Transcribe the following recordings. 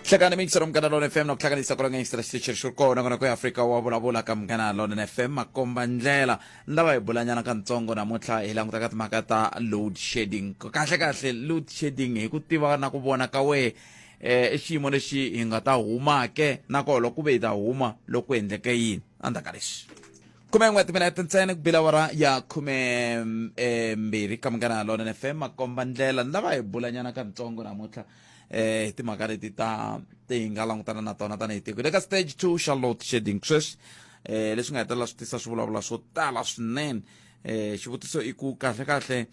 hlekana mixero mukana lona fm na ku hlanganisa ku ranga extra station xi ri kona kona ku ya afrika wa vulavula ka mukana lona fm makomba ndlela ni lava hi bulanyana ka ntsongo namuntlha hi languta ka timhaka ta load shedding kahle kahle load shedding hi ku tiva na ku vona ka wehe eh, i xiyimo lexi hi nga ta humake nakona loko ku ve hi ta huma loko ku endleke yini endzhaku ka leswi khume n'we timinete ntsena ku bila wara ya khume eh, mbirhi ka munghana lona ni fm makomba ndlela ni lava hi bulanyana ka ntsongo namuntlha eh hi timhaka leti ta ti hi nga langutana na tona tanihi tiko le ka stage two charlotte shading sweswi eh leswi nga hetelela swi tisa swivulavula swo tala swinene eh xivutiso i ku kahle kahle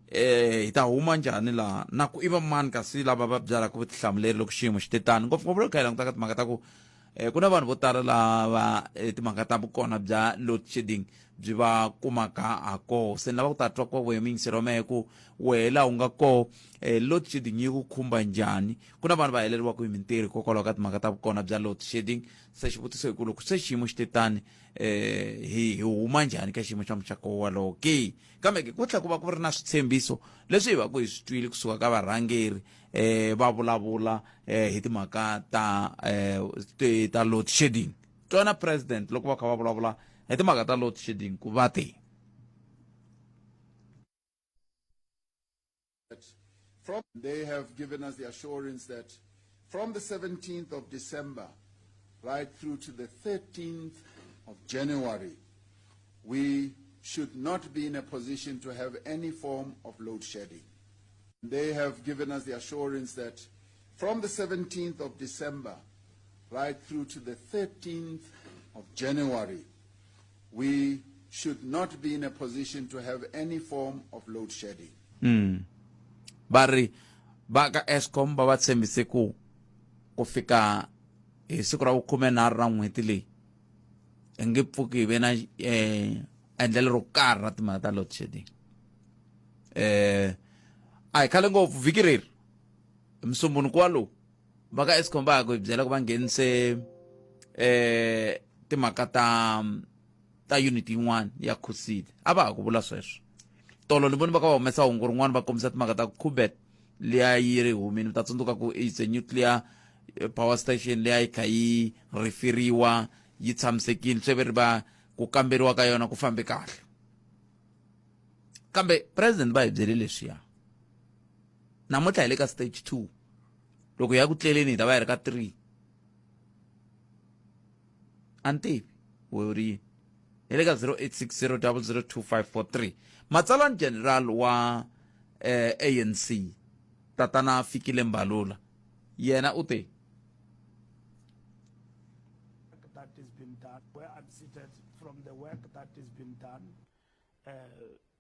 eh hi ta huma njhani laha na ku i va mani kasi lava va byalaka vutihlamuleri loko xiyimo xi te tani ngopfungopfu loko hi langutaka timhaka ta ku um ku na vanhu vo tala lava eh, timhaka ta vukona bya load shedding byi va kumaka ha koho se ni lava ku ta twa kwa wehe muyingiseri wa mehe ku wehe laha u nga koho um eh, load shedding yi ku khumba njhani ku na vanhu va heleriwaka hi mintirho hikokwalaho ka timhaka ta vukona bya load shedding se xivutiso hi ku loko se xiyimo xi te tani um hi hi huma njhani ka xiyimo xa muxako walowo ke kambe ke ku tlhela ku va ku ri na switshembiso leswi hi va ku hi swi twile kusuka ka varhangeri eh va vulavula eh hi timhaka ta eh ti- ta load shedding twana president loko va kha va vulavula hi timhaka ta load shedding ku va te From they have given us the assurance that from the 17th of December right through to the 13th of January, we should not be in a position to have any form of load shedding. They have given us the assurance that from the 17th of December right through to the 13th of January, we should not be in a position to have any form of load shedding. Mm. va ri va ka escom va va tshembise ku ku fika hi siku ra vukhumenharhu ra n'hweti leyi hi nge pfuki hi ve na um endlelo ro karhi ra timhaka ta load shedding um a hi khale ngopfu vhiki reri musumbunuku walowu va ka escom va ya ku hi byela ku va nghenise um timhaka ta ta unit yin'wana ya khusile a va ha ku vula sweswo tolo ni voni va ka va humesa hungu rin'wana va kombisa timhaka ta ku khubet leya yi ri humini mi ta tsundzuka ku it's a nuclear eh, power station leya yi kha yi rifiriwa yi tshamisekile swi ve ri va ku kamberiwa ka yona ku fambe kahle kambe president va hi byele leswiya namuntlha hi le ka stage two loko hi ya ku tleleni hi ta va hi ri ka three antivi u ri hi le ka 0860002543 matsalwa ni general wa eh, anc tatana fikile mbalula yena u te that has been done, where I'm seated from the work that has been done. Uh,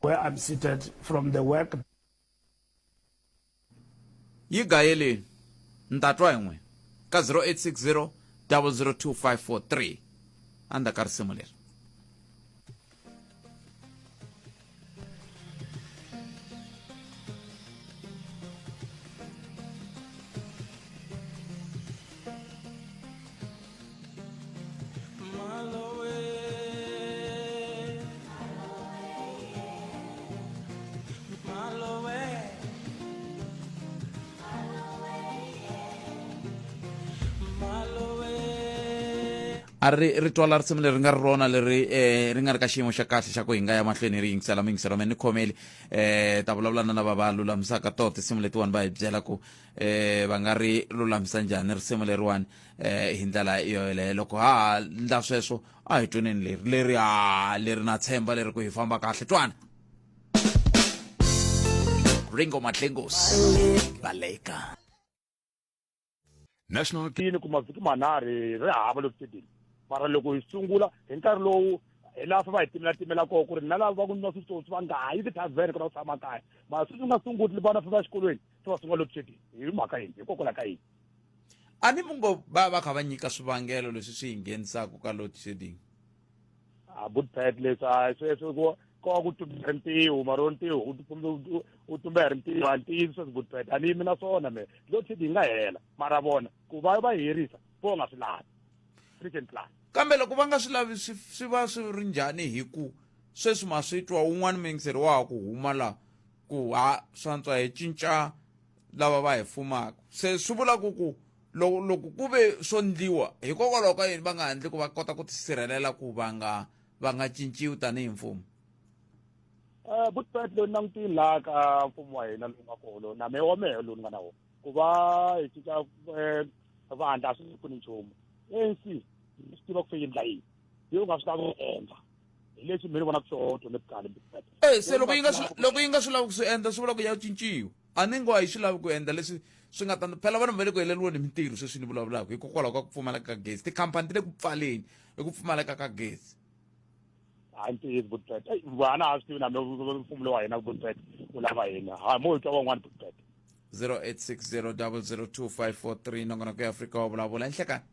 Where I'm seated from the work. yi gayeleni ni ta twa hi n'wina ka 0860 002543 a ni ta ka risimu leri a ri ri twala risimu leri nga ri rona leri um ri nga ri ka xiyimo xa kahle xa ku hi nga ya mahlweni hi ri yingisela mi yingisela me ni khomeli um ta vulavula na lava va lulamisaka toho tinsimu letiwani va hi byela ku um va nga ri lulamisa njhani risimu leriwani eh hi ndlela yoyeleyo loko ha ha ndla sweswo a hi tweneni leri leri ha leri na tshemba leri ku hi famba kahle twana ringo matlengos baleka national yini ku mavhiki manharhi ri hava loku stadium mara loko hi sungula hi nkarhi lowu hi laha fa va hi timela timela koho ku ri na lava va ku nwa switsotsi va nga ha yi tithavhene ku na ku tshama kaya mara sweswi u nga sunguli vana fa va exikolweni se va sungula loko swi hi mhaka yini hikokwalaho ka yini a ni mi ngo va va kha va nyika swivangelo leswi swi hi nghenisaka ka load shedding a budpet leswi a sweswi ko ko ku tumbela ntiho mara wo ntiho u tumbela ri ntiho a ntiyiso sweswi budpet a ni yimi na swona me load shedding yi nga hela mara vona ku va va herisa vo nga swi lavi freaking plan kambe loko va nga swi lavi swi swi va swi ri njhani hi ku sweswi ma swi twa un'wana mingiseri wa ha ku huma laha ku ha swantswa hi cinca lava va hi fumaka se swi vula ku ku loko loko ku ve swo ndliwa hikokwalaho ka yini va nga handli ku va kota ku tisirhelela ku va nga va nga cinciwi tanihi mfumo um eh, butpet loyi langutini laha ka mfumo wa hina lowu nga kolo na mehe wa mehe lowu ni nga na wona ku va hi cinca eh, vandla a swi pfuni nchumu anc swi tiva ku fe yindla yini yo u nga swi lavi ku endla hi leswi mi ni vonaka swona to nebucale e se loko yi nga loko yi nga swi lavi ku swi endla swi vula ku ya cinciwa a ni ngo a yi swi lavi ku endla leswi swi nga ta phela vanhu va le ku heleriweni hi mintirho sweswi ni vulavulaka hikokwalaho ka ku pfumaleka ka gezi tikhampani ti le ku pfaleni hi ku pfumaleka ka gezi hayi ntiyiso butbet eyi vana a swi tivi nami mfumo lowa hina butbet u lava hina ha mo hi twa van'wana butbet 0860 002 543 nongonoko ya afrika wa vulavula enhlekani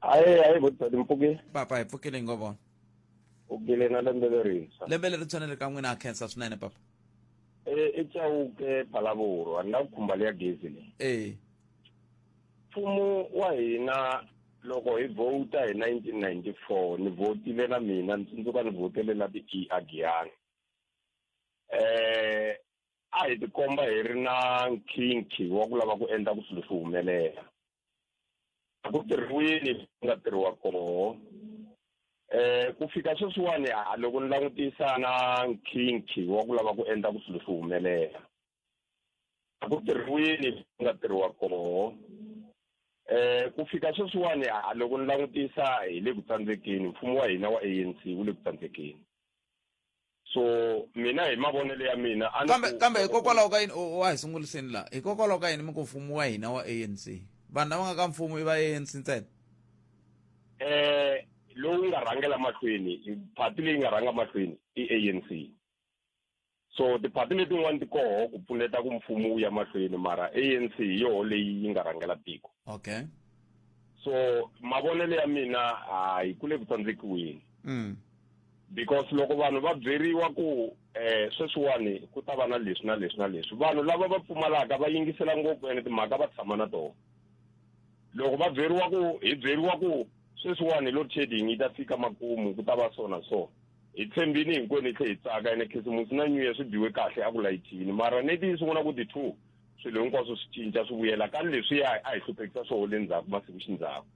aye aye votisati mpfukile papa hi pfukile hi ngo vona pfukile na lembe lerintshwa lembe leri tshwanele ka n'wina a khensa swinene papa e i chawuke phalavuro a ni lava ku khumba leya gezi leyi e mfumo wa hina loko hi vhota hi 1994 ni vhotile na mina ni tsundzuka ni vhotele na ti-e agiyani eh a hi tikomba hi ri na nkhinkhi wa ku lava ku endla ku swilo swi humelela a ku tirhiwini ku nga tirhiwa koho eh ku fika sweswiwani a loko ni langutisa na nkhinkhi wa ku lava ku endla ku swilo swi humelela a ku tirhiwini ku nga tirhiwa koho eh ku fika sweswiwani a loko ni langutisa hi le ku tsandzekeni mfumo wa hina wa ANC wu le ku tsandzekeni so mina hi mavonelo ya mina kambe kambe hikokwalaho ka yini wa hi sunguriseni laha hikokwalaho ka yini mi ku mfumo wa hina wa anc vanhu lava nga ka mfumo i va anc ntsena um lowu nga rhangela mahlweni phati leyi nga rhanga mahlweni i anc so tiphati letin'wani ti koho ku pfuneta ku mfumo wu ya mahlweni mara anc hi yoho leyi yi nga rhangela tiko okay so mavonelo ya mina hayi ku le ku tsandzekiweni mm. because loko vanhu va byeriwa ku um eh, sweswiwani ku ta va na leswi na leswi na leswi vanhu lava va pfumalaka va yingisela ngopfu ene timhaka va tshama na tona loko va byeriwa ku hi byeriwa ku sweswiwani load shedding yi ta fika makumu ku ta va so na so hi tshembini hinkwenu hi tlhe hi tsaka ene khisimusi na new year swi biwe kahle a ku layithini mara neti yi sungula ku ti-two swilo hinkwaswo swi cinca swi vuyela ka leswiya a hi hluphekisa swoho le ndzhaku masiku xindzhaku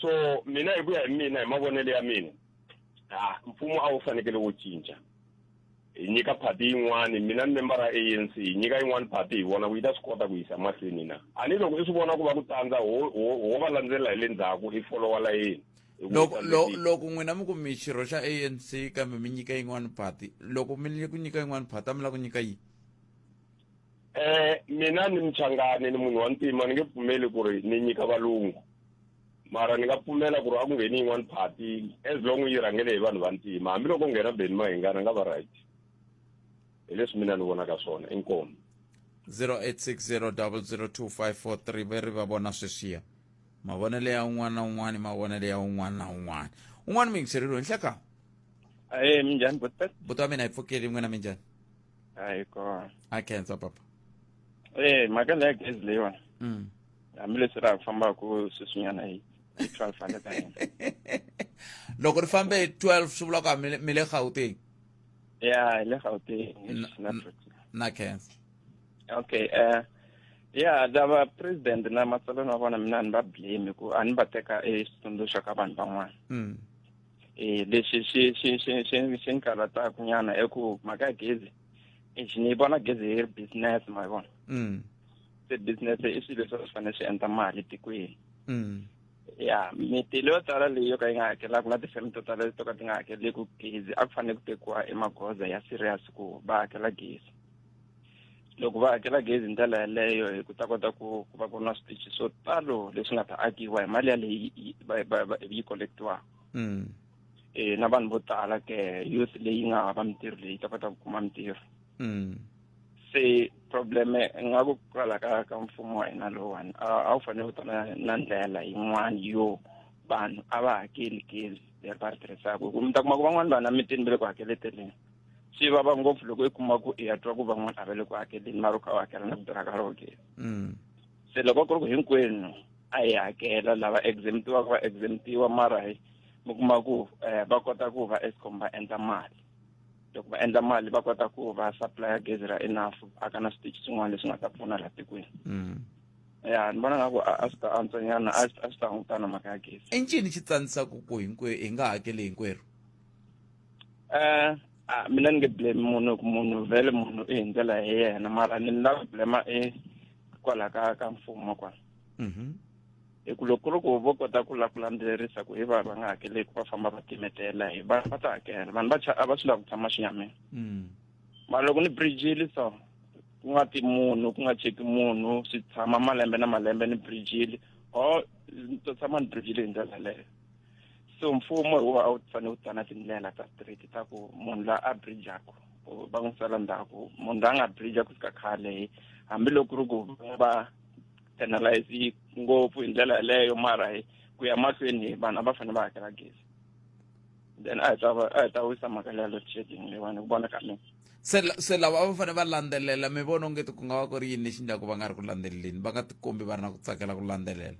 so mina hi ku ya hi mina hi mavonelo ya mina ha mfumo a wu fanekele wu cinca hi nyika party yin'wani mina ni member ra anc hi nyika yin'wani party hi vona ku yi ta swi kota ku yisa mahlweni na a ni loko i swi vona ku va ku tsandza ho va landzelela hi le ndzhaku i folowa layeni loko loko n'wina mi ku mi xirho xa anc kambe mi nyika yin'wani party loko mi ku nyika yin'wani party a mi lava ku nyika yini Eh mina ni mchangani ni munhu wa ntima ni nge pfumeli ku ri ni nyika valungu mara ni nga pfumela ku ri a ku ngheni yin'wani party as long yi rhangele hi vanhu va ntima hambiloko nghena beni mahingana nga va right hi leswi mina ni vonaka swona inkomo 0860002543 ve ri va vona sweswiya mavonelo ya un'wana na un'wana i mavonelo ya un'wana na un'wana un'wana muyingiseleriwe nhleka e minjhani buta buta mina hi pfukeli n'wina minjhani hayi kona a khensa papa e mhaka leya gezi leyiwani mm. hambileswi ra ha ku fambaka sweswinyana hi hi twelve hundred na hina loko ri fambe hi twelve swi vula ku a mi le gauteng ya hi le gauteng na khensa okay um ya lava president na matsalweni wa vona mina a ni va blame ku a ni va teka exitsundzuxo ka vanhu van'wana mm. e leswi swi swi swi swi swi ni karhataku nyana i ku mhaka ya gezi exi ni vona gezi yi ri business ma yi vona mm. se business i swilo leswi swi fanele swi endla mali tikweni mm. ya mitilo yo tala leyi yo ka yi nga hakelaka na tifeme to tala to ka ti nga hakeleki gezi a ku fanele ku tekiwa emagoza ya serious ku va hakela gezi loko va hakela gezi hi ndlela yaleyo hi ku ta kota ku ku va ku ri na switichi swo talo leswi nga ta akiwa hi mali yaleyi yi- va- va- va- yi collectiwaka Mm. eh na vanhu vo tala ke youth leyi nga hava mintirho leyi ta kota ku kuma mintirho Mm. se problem nga ku kwala ka ka mfumo wa hina lowani a a wu fanele wu ta na na ndlela yin'wani yo vanhu a va hakeli gezi leri va ri tirhisaka hi ku mi ta kuma ku van'wani vanhu emitini va le ku hakeleteleni swi vava ngopfu loko i kuma ku i ya twa ku van'wana a va le ku hakeleni mara u kha u hakela na vito ra ka roke mm. se loko ku ri ku hinkwenu a hi hakela lava exemptiwa ku va exemptiwa mara hi mi kuma ku um va kota ku va escom va endla mali loko va endla mali va kota ku va supplya gezi ra enough a ka na switichi swin'wana leswi nga ta pfuna laha tikweni mm. ya ni vona nga ku a swi ta antswanyana a swi ta hungutana mhaka ya gezi i ncini xi tsanisaka ku hinkwerhu hi nga hakeli hinkwerhu eh a mina ni nge blame munhu ku munhu vhele munhu i hi ndlela hi yena mara ni ni lava blema i kwala ka ka mfumo kwa mhm. hi ku loko ku ri ku vo kota ku la ku landzelerisa ku hi va va nga hakeleki va famba va timetela hi va va ta hakela vanhu va a va swi lava ku tshama xinyameni mm. mara loko ni bridgile so ku nga ti munhu ku nga cheki munhu swi tshama malembe na malembe ni bridgile or ni to tshama ni bridgile hi ndlela leyo so mfumo wu a wu fanele wu tsana tindlela ta straight ta ku munhu la a bridjaku va n'wi sala ndzhaku munhu la nga bridja ku fika khale hambiloko ku ri ku va penalize ngopfu hi ndlela yeleyo mara hi ku ya mahlweni vanhu a va fanele va hakela gezi then a hi ta a hi ta wisa mhaka leya load shedding leyiwani hi ku vona ka mina se se lava a va fanele va landzelela mi vona ongeti ku nga va ku ri yini lexi ndlaku va nga ri ku landzeleleni va nga tikombi va ri na ku tsakela ku landzelela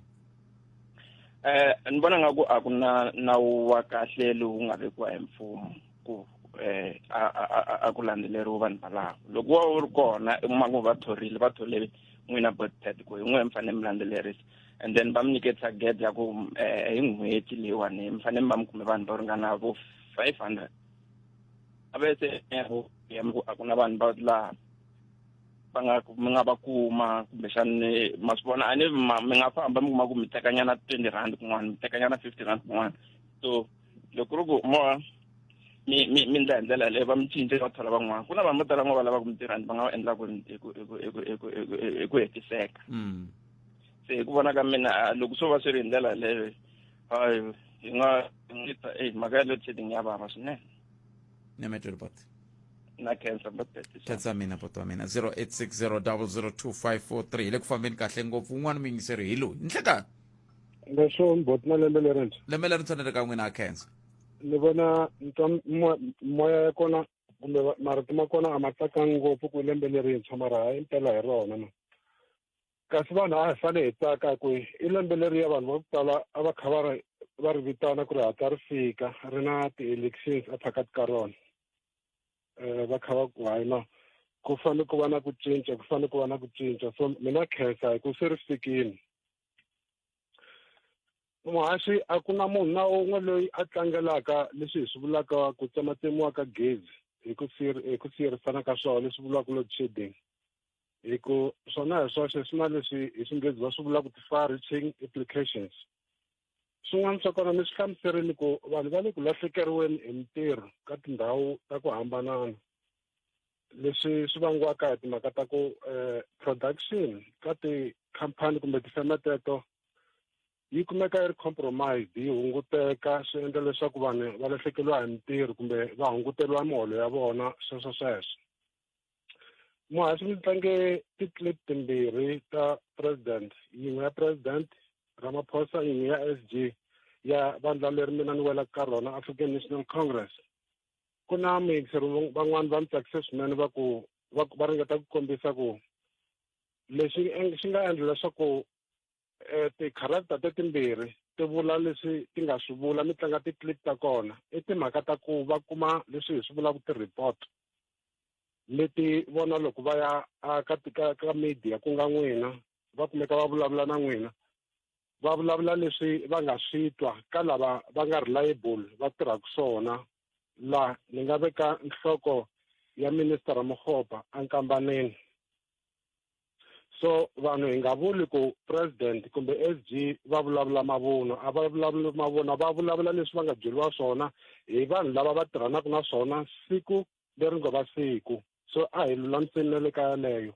eh ni vona nga ku a ku na nawu wa kahle lowu nga vekiwa hi mfumo ku eh a a- a- a ku landzeleriwa vanhu valavo loko wa wu ri kona kuma ku va thorile va thole n'wina botet ku hi n'we mi fanele mi landzelerisa and then va mi nyike target ya ku eh hi n'hweti leyiwani mi fanele mi va mi kume vanhu va ringana vo five hundred a ve se eh, ku a ku na vanhu va laha va nga mi nga va kuma kumbexani ma swi vona a ni mi nga famba mi kuma ku mi tekanyana twenty rand kun'wana mi tekanyana fifty rand kun'wana so loko ri ku moya mi mi mi ndla hi ndlela yaleyo va mi cince va thola van'wana ku na vanhu vo tala va lava ku mintirhani va nga va endlaka hi ku hetiseka mm. se hi ku vona ka mina ah, loko swo va swi ri hi ndlela yaleyo hi nga hi nga ta eyi mhaka ya load shedding ya vava swinene na mete uri pati na khensa mbatete tatsi wa mina poto wa mina 0860002543 hi le ku fambeni kahle ngopfu un'wana muyingiseri hi loyi nhlekani leswo mboti na lembe lerintshwa lembe lerintshwa ni ri ka n'wina a khensa ni vona nitwa moya ya kona kumbe marito ma kona a ma tsakangi ngopfu ku lembe lerintshwa mara ha impela hi rona ma kasi vanhu a hi fane hi tsaka ku i lembe leriya vanhu va ku tala a va kha va ri va ri vitana ku ri hatla ri fika ri na ti-elections ephakati ka rona um va kha va ku hayi no ku fane ku va na ku cinca ku fane ku va na ku cinca so mina khensa hi ku se ri fikile muhaxi a ku na munhu na un'we loyi a tlangelaka leswi hi swi vulaka ku tsematsemiwa ka gezi hi ku hi ku siyerisana ka swona leswi vuriwaka load shedding hi ku swona hi swoxe swi na leswi hi xinghezi va swi vula ku ti-far reaching applications swin'wana swa kona mi swi hlamuserile ku vanhu va le ku lahlekeriweni hi mintirho ka tindhawu ta ku hambanana leswi swi vangiwaka hi timhaka ta ku um production ka tikhampani kumbe tifeme teto yi kumeka yi ri compromised yi hunguteka swi endla leswaku vanhu va lahlekeriwa hi mintirho kumbe va hunguteriwa miholo ya vona sweswo sweswo muhasi mi tlange ti-clip timbirhi ta president yin'we ya president ramaphosa yin'we ya s g ya vandla leri mina ni welaka ka rona african national congress ku na muyingiseri van'wani va mi tsakise swinene va ku va ringeta ku kombisa ku lexi xi nga endla leswaku eh, ti-character tetimbirhi ti vula leswi ti nga swi vula mi tlanga ti-clip ta kona i timhaka ta ku va kuma leswi hi swi vulaka ti-report leti vona loko va ya ka ka ka media ku nga n'wina va kumeka va vulavula na n'wina va vulavula leswi va nga swi twa ka lava va nga reliable va tirhaka swona laha ni nga veka nhloko ya minister Ramokgopa a nkambaneni so vanhu hi nga vuli ku president kumbe s g va vulavula mavunwa a va vulavuli mavunwa va vulavula leswi va nga byeriwa swona hi vanhu lava va tirhanaka na swona siku leri ngo va siku so a hi lulamiseni na le ka yaleyo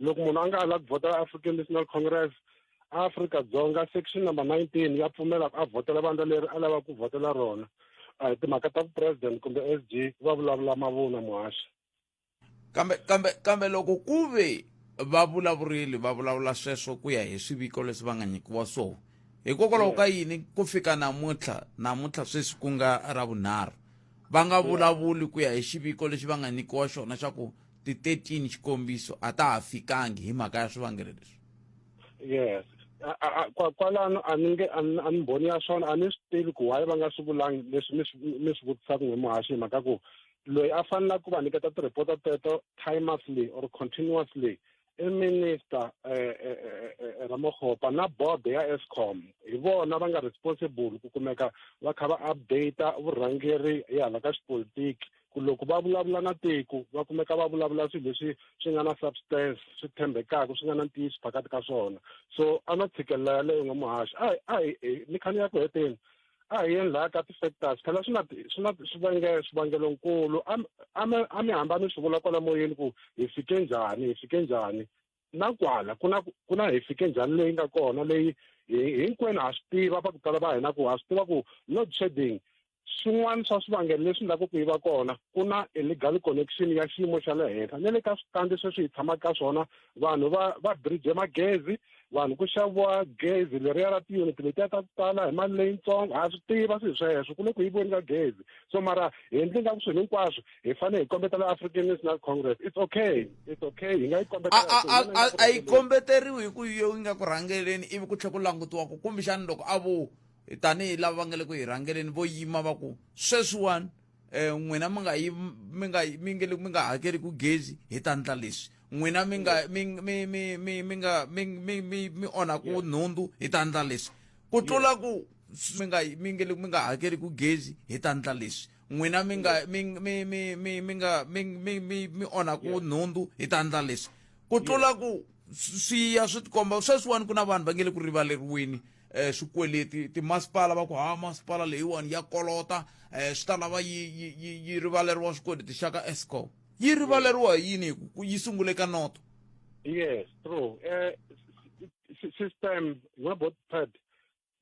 loko munhu a nga a lava ku vhota african national congress africa dzonga section number nineteen ya pfumela ku a vhotela vandla leri a lavaka ku vhotela rona a hi timhaka ta vupresident kumbe s g va vulavula mavunwa muhaxi kambe kambe kambe loko ku ve va vulavurili va vulavula sweswo ku ya hi swiviko leswi va nga nyikiwa swona hikokwalaho ka yini ku fika namuntlha namuntlha sweswi ku nga ra vunharhu va nga vulavuli ku ya hi xiviko lexi va nga nyikiwa xona xa ku ti-13 xikombiso a ta ha fikangi hi mhaka ya swivangelo leswi yes kwalano a ni nge a ni mbhoni ya swona a ni swi tivi ku why va nga swi vulangi leswi mi swi vutisaka n'we muhaxi hi mhaka ku loyi a fanelaka ku va nyiketa ti-report-a teto timelessly or continuously i minister um eh, eh, eh, ramokgopa na board ya escom hi vona va nga responsible ku kumeka va kha va updata vurhangeri hi hala ka xipolitiki ku loko va vulavula na tiko va kumeka va vulavula swilo leswi swi nga na substance swi tshembekaka swi nga na ntiyiso phakati ka swona so a na tshikelela yaleyo n'wamuhaxi a hi a hi ni khani ya ku heteni a hi yeni laha ka ti-factors phela swi na swi na swivangelo swivangelonkulu a mi hamba mi swi vula kwala moyeni ku hi fike njhani hi fike njhani na kwala ku na ku na hi fike njhani leyi nga kona leyi hinkwenu ha swi tiva va ku tala va hina ku ha swi tiva ku load shedding swin'wana swa swivangelo leswi endlaka ku yi va kona ku na illegal connection ya xiyimo xa le henhla na le ka switandi sweswi hi tshamaka ka swona vanhu va va bridge magezi vanhu ku xaviwa gezi leriya ra tiyuniti letiya ta ku tala hi mali leyitsongo ha swi tiva swi sweswo ku le ku yivoni ka gezi so mara hi ndli nga ku swilo hinkwaswo hi fanele hi kombetela african national congress it's okay it's okay hi nga yi kombetela a yi kombeteriwi hi ku yo yi nga ku rhangeleni ivi ku tlhe ku langutiwa ku kumbexani loko a vo tanihi lava va nga le ku yi rhangeleni vo yima va ku sweswiwani um n'wina mi nga yi mi nga mi nge mi nga hakeli ku gezi hi ta ndla leswi n'wina mi nga mi mi mi mi mi nga mi mi mi mi onha ku nhundzu hi ta ndla leswi ku tlula ku mi nga mi nge mi nga hakeli ku gezi hi ta ndla leswi n'wina mi nga mi mi mi mi mi nga mi mi mi mi onha ku nhundzu hi ta ndla leswi ku tlula ku swi ya swi tikomba sweswiwani ku na vanhu va nge le ku rivaleriweni eh swikweleti timasipala va ku ha masipala leyiwani ya kolota eh swi ta lava yi yi yi, yi rivaleriwa swikweleti xa ka escom yi rivaleriwa hi yini hi ku yi sungule ka noto yes true eh system na both part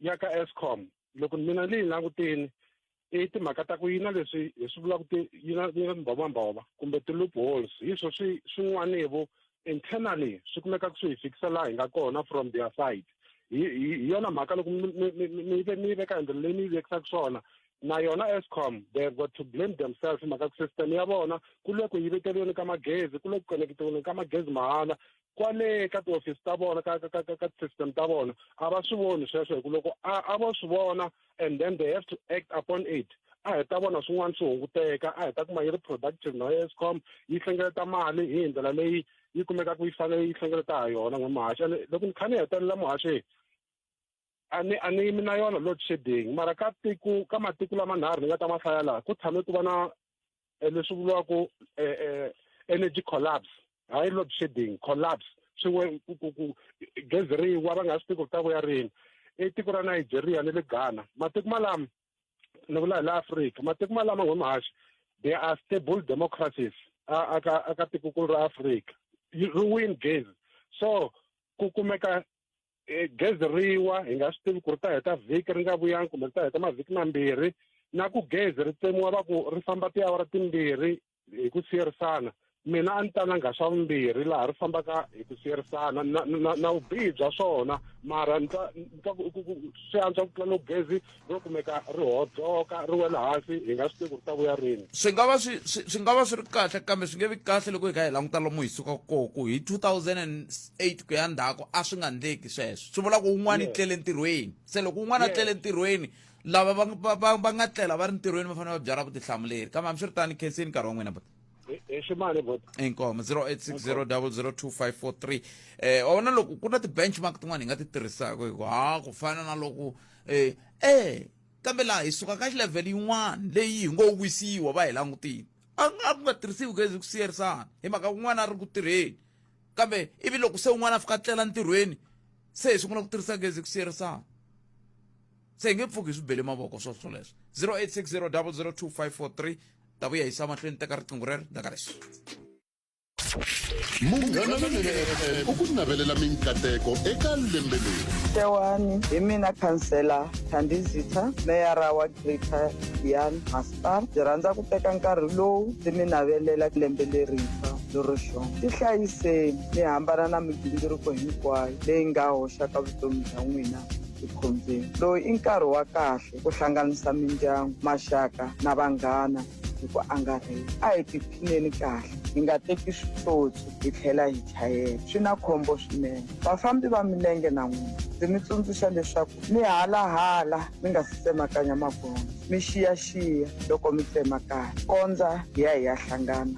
ya ka escom loko mina ni yi langutini i timhaka ta ku yi na leswi hi swi vulaka ti yi na yi na timbhovombhovo kumbe ti-loopholes hi swo swi swin'wanevo internally swi kumeka ku swi hi fikisa laha hi nga kona from their side hi hi yona mhaka loko mi ve mi veka hi ndlela leyi mi yi vekisaka swona na yona escom they have got to blame themselves hi mhaka ku system ya vona ku le ku yiveteriweni ka magezi ku le ku koneketiweni ka magezi mahala kwale ka tiofisi ta vona ka ka ka ka system ta vona a va swi voni sweswo hi ku loko a a vo swi vona and then they have to act upon it a hi ta vona swin'wana swi hunguteka a hi ta kuma yi ri productive na escom yi hlengeleta mali hi ndlela leyi yi kumekaka yi fanele yi hlengeleta ha yona n'we muhaxi ene loko ni kha ni hetelela muhaxi a ni a ni yimi na yona load shedding mara ka tiko ka matiko lamanharhu ni nga ta ma hlaya laha ku tshame ku va na eh, leswi vuriwaka eh, eh, energy collapse hayi load shedding collapse swin'we gezi ri wa va nga swi tivi ku ta vuya rini i tiko ra nigeria ni le ghana matiko malama ni vula hi la afrika matiko malama n'we mahaxi they are stable democracies aka tikokulu ra afrika ri win gezi so ku kumeka e, gezi riwa hi nga swi tivi ku ri ta heta vhiki ri nga vuyangi kumbe ri ta heta mavhiki mambirhi na ku gezi ri tsemiwa va ku ri famba tiawara timbirhi hi ku siyerisana mina a ni ta na nghaxa vumbirhi laha ri fambaka hi ku siyerisana na na na vubihi bya swona mara ni ta ni ta ku ku ku swi antswa ku tlula loko gezi ro kumeka ri hodzoka ri wela hansi hi nga swi tivi ku ri ta vuya rini swi nga va swi swi nga va swi ri kahle kambe swi nge vi kahle loko hi kha hi languta lomu hi sukaka kona ku hi 2008 ku ya ndzhaku a swi nga ndleki sweswo swi vula ku un'wana i tlele ntirhweni se loko un'wana a tlele ntirhweni lava va nga tlela va ri ntirhweni va fanele va byala vutihlamuleri kambe hambi swi ri tani khenseni nkarhi wa n'wina bota hi ximali bot inkomo 0860002543 eh wawona loko ku na ti-benchmark tin'wana hi nga ti tirhisaka hi ku ha ku fana na loko eh, eh kambe laha hi suka ka xilevhele yin'wana leyi hi ngo wisiwa va hi langutile a nga ku nga tirhisiwi gezi ku siyerisana hi mhaka kun'wana a ri ku tirheni kambe ivi loko se un'wana a fika tlela ntirhweni se hi sungula ku tirhisa gezi ku siyerisana se hi nge pfuki hi swi bele mavoko swo swoleswo 0860 002 543 ta vuya hi sa mahlweni teka riqingho rero ndaka leswi munghana lonene fm u ku navelela minkateko eka lembe leri xewani hi mina khansela thandizitha meyara wa greater yan masipala ndzi rhandza ku teka nkarhi lowu ndzi mi navelela lembe lerintshwa lero xona ti hlayiseni mi hambana na migingiriko hinkwayo leyi nga hoxaka vutomi bya n'wina ekhombyeni lowu i nkarhi wa kahle ku hlanganisa mindyangu maxaka na vanghana hi ku angarhela a hi tiphineni kahle hi nga teki switsotsi hi tlhela hi chayela swi na khombo swinene vafambi va milenge na n'wina ndzi mi tsundzuxa leswaku mi halahala mi nga si tsemakanya magondzo mi xiyaxiya loko mi tsemakanya kondza hi ya hi ya hlangana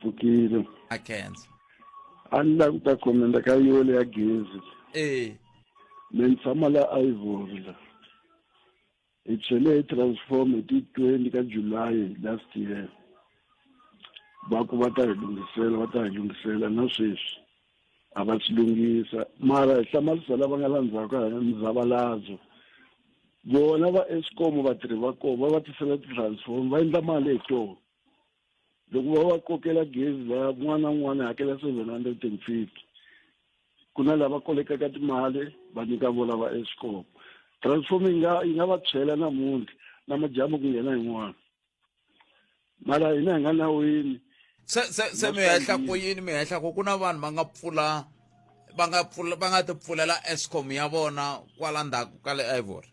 pfukile a khensa a ni lavi ku ta khomenda ka yole ya gezi e me ni tshama la ivory la hi chele hi transform hi ti-twenty ka july last year va ku va ta hi lunghisela va ta hi lunghisela na sweswi a va swi lunghisa mara hi hlamarisa lava nga la ndzhaku ka hina muzavalazo vona va escom vatirhi va kona va va tisela ti-transform va endla mali hi toho loko va va kokela gezi va n'wana n'wana hakela seven hundred and fifty ku na lava kolekaka timali va nyika vona va escom transform yi nga yi nga va tshwela namuntlha na madyambu ku nghena yin'wana mara hina hi nga nawini se se se mi hehla ku yini mi hehla ku ku na vanhu va nga pfula va nga pfula va nga ti pfulela escom ya vona kwala ndzhaku ka le ivory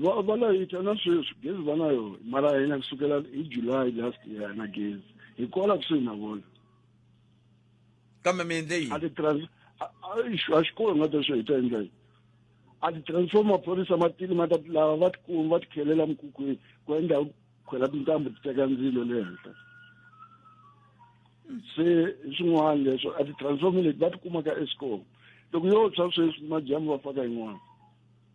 va va layita na sweswi gezi va na yona mara hina kusukela hi july last year na gezi hi kola kusuhi na vona kambe mi endle yini a ti-trans- a- a- ixu, a xikolo nga ta swi hi ta endla yini a ti-transform maphorisa matili ma ta lava va tikuma va tikhelela mikukwini ku endla khwela tintambu ti teka ndzilo le henhla se swin'wana leswo a ti-transform leti va tikumaka escom loko yo tshwa sweswi madyambu va faka yin'wana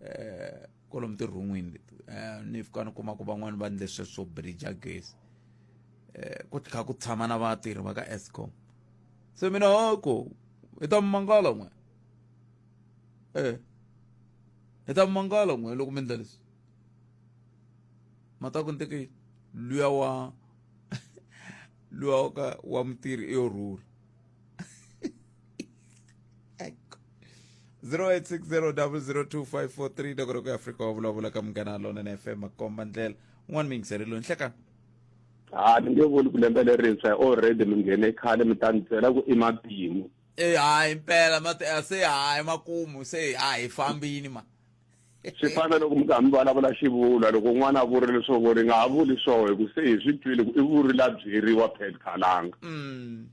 eh kolomu tirhun'wini leti eh, ni fika ni kuma ku van'wani va ndle swe swo bridge gezi eh ku tlha ku tshama na vatirhi va ka Eskom se mina hoko i ta mangala n'we eh i ta mangala n'we loko mi ndla leswi mata ku nteke luya wa luya wa ka wa mutirhi i yo rhula 0860002543 loko ri ku afrika wa vulavula ka munghana lona na fm makomba ndlela un'wana mi yingiseri lowu nhlekani ha ni nge vuli ku lembe lerintshwa hi already mi nghene khale mi ta ni byela ku i matimu e hayi mpela mati a se hayi makumu se a hi fambini ma swi fana loko mi kha mi vulavula xivulwa loko n'wana a vurile leswaku ri nga ha vuli swo hi ku se hi swi twile ku i vuri la byeriwa pet khalanga mm.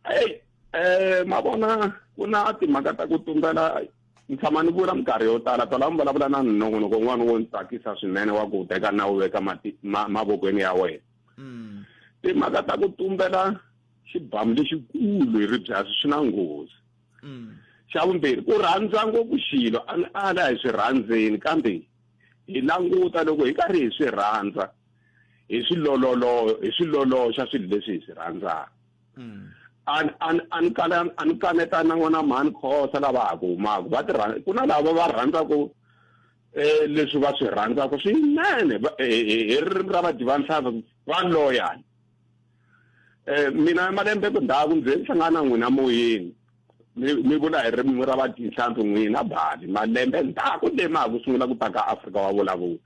eyi um ma vona ku na timhaka ta ku tumbela ni tshama ni vula minkarhi yo tala tala mi vulavula na nongonoko n'wana wo ni tsakisa swinene wa ku teka na wu veka mavokweni ya wena mm. timhaka ta ku tumbela xibamu lexikulu hi ribyasi swi na nghozi mm. xa vumbirhi ku rhandza ngopfu xilo a ni ala hi swi rhandzeni kambe hi languta loko hi karhi hi swi rhandza hi swi lololo hi swi loloxa swilo leswi hi swi rhandzaka mm. an an an kala an kaneta na n'wana mhani khosa lava ha ku humaka va tirha ku na lava va rhandzaka eh leswi va swi rhandzaka swinene eh, eh, eh, hi ririmi ra vadivanhlava va loyal um mina malembe ku ndhaku ndzi ni hlangana na n'wina moyeni mi mi vula hi ririmi ra vadyihlampfi n'wina bali malembe ndhaku le ma ha ku sungula ku ta ka afrika wa vulavula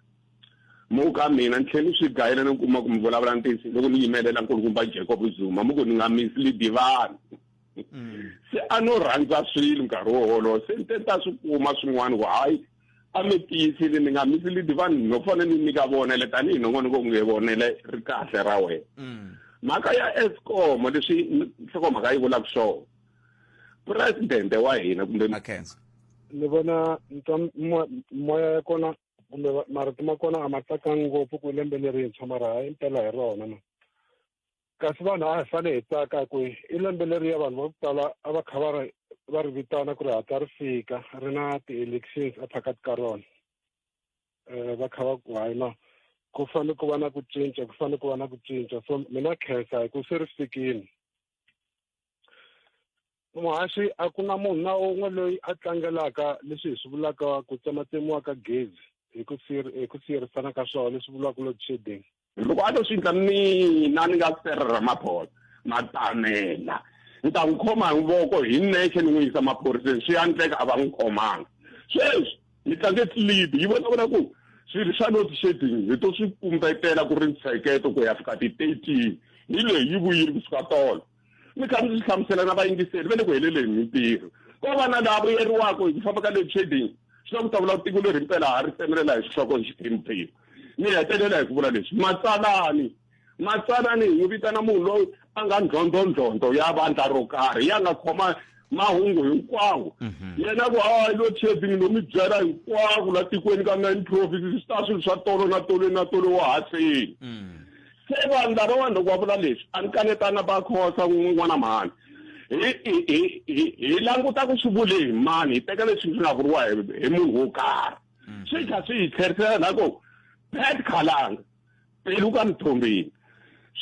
mu ka mina ni tlhe ni swi gayela ni kuma ku mi vulavula ntiyiso loko ni yimelela nkulukumba jacob zuma mu ku ni nga misi lidivani mm. se a no rhandza swilo nkarhi wo wolowo se ni te ni ta swi kuma swin'wana ku hayi a mi tiyisile ni nga mi silidi vanhu no fane ni nyika vonele tanihi nongonoko nge vonele ri kahle ra wena mm. mhaka ya escom leswi nhlokomhaka yi vulaka swona presidente wa hina kumbe ni vona moya ya kona kumbe marito ma kona a ma tsakanga ngopfu ku lembe lerintshwa mara hi mpela hi rona ma kasi vanhu a hi fane hi tsaka ku i lembe leriya vanhu va ku tala a va kha va ri va ri vitana ku ri hatla ri fika ri na ti-elections ephakathi ka rona um va kha va ku hayi no ku fanele ku va na ku cinca ku fanele ku va na ku cinca so mina khensa hi ku se ri fikile muhaxi a ku na munhu na un'we loyi a tlangelaka leswi hi swi vulaka ku tsematsemiwa ka gezi hi ku hi ku siyerisana ka swona leswi vuriwaka load shedding loko a to swi endla mina ni nga sere ramaphosa matamela ni ta n'wi khoma hi voko hi nexe ni n'wi yisa maphoriseni swi ya ndleka a va n'wi khomanga sweswi ni tlange clib yi vonavona ku swilo swa load shedding hi to swi kumbetela ku ri ntsheketo ku ya fika ti-thirteen hi leyi yi vuyile kusuka tolo ni karhi ndzi hlamusela na vayingiseri va le ku heleleni hi ntirho ko va na laha vuyeriwaka hi ku famba ka load shedding swi na ku ta vula tiko leri mpela ha ri tsemelela hi xihloko hi xiphemu phemu ni hetelela hi ku vula leswi matsalani matsalani hi n'wi vitana munhu loyi a nga ndlhondlondlhondlo ya vandla ro karhi ya nga khoma mahungu hinkwawo mhm. yena ku hayi lo trading lo mi byela hinkwako la tikweni ka nine provinces swi ta swilo swa tolo na tolo na tolo wa haseni mm. Se vanhu lavawani loko va vula leswi a ni kanetanga va khosa n'wana mhani hi languta ku swi vule hi mani hi teka leswi swi nga vuriwa hi munhu wo karhi mm. swi kha swi hi tlherisela na ku pet khalanga pelu ka mithombeni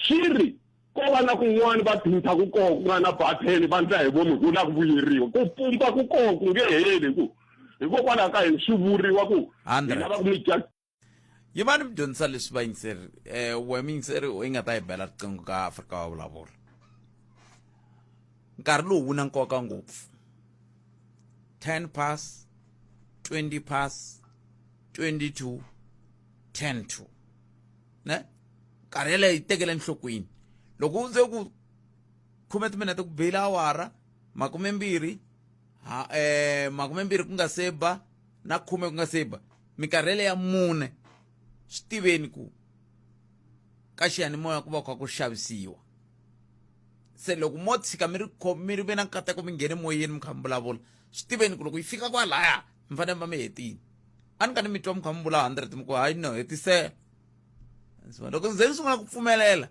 swi ri ko va na kun'wana va dhinta ku koho ku nga na batheni va ndla hi vomi ku la ku vuyeriwa ku pumpa ku koho ku nge heli ku hikokwalaho ka yini swi vuriwa ku hi lava ku mi yi va ni mi dyondzisa leswi va yingiseri um eh, we mi yingiseri u yi nga ta yi bela riqingho ka afrika wa vulavula nkarhi lowu wu na nkoka ngopfu 10 pass 20 pass 22 10 2 ne nkarhi yeleyo yi tekele enhlokweni loko u ze ku khume timinete ku beyile awara makumembirhi ha um makumembirhi ku nga se ba na khume ku nga se ba Mi karhele ya mune, swi tiveni ku ka xiyanimoya ku va ku kha ku xavisiwa se loko mo tshika mi ri mi ri ve na nkateko mi nghene moyeni mi kha mi vulavula swi tiveni ku loko yi fika kwalaya mi fanele mi va mi hetile a ni ka ni mi twa mi kha mi vula hundred mi ku hayi no hetisela so loko ni ze ni sungula ku pfumelela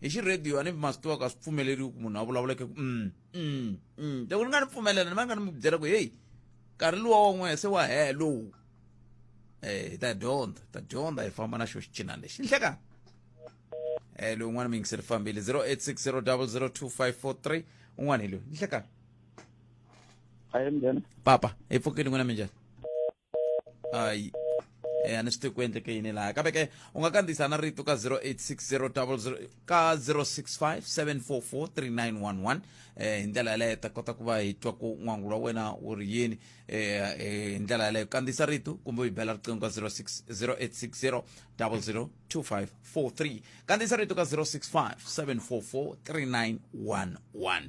hi xi radio a ni ma swi tiva ku a swi pfumeleriwi ku munhu a vulavula ku um Mm, mm. loko ni nga ni pfumelela ni va nga ni mi byela ku heyi nkarhi luwa wa n'wehe se wa hee lowu eh hi ta dyondza hi ta dyondza hi famba na xo xicinani lexi ni hlekani eh loyi un'wana mi yingiseli fambile 0860002543 un'wana hi loyi ni hlekani Hi, Mjana. papa hi pfukile n'wina minjhani hayi eh, a ni swi tivi ku endleke yini laha kambe ke u nga kandziyisa na rito ka 0860 ka 065 744 3911 eh, hi ndlela yaleyo ta kota ku va hi twa ku n'wangu wa wena wu ri yini eh, eh, hi ndlela yaleyo kandziyisa rito kumbe u yi bela riqingho ka 0860 002543 kandziyisa rito ka 065 744 3911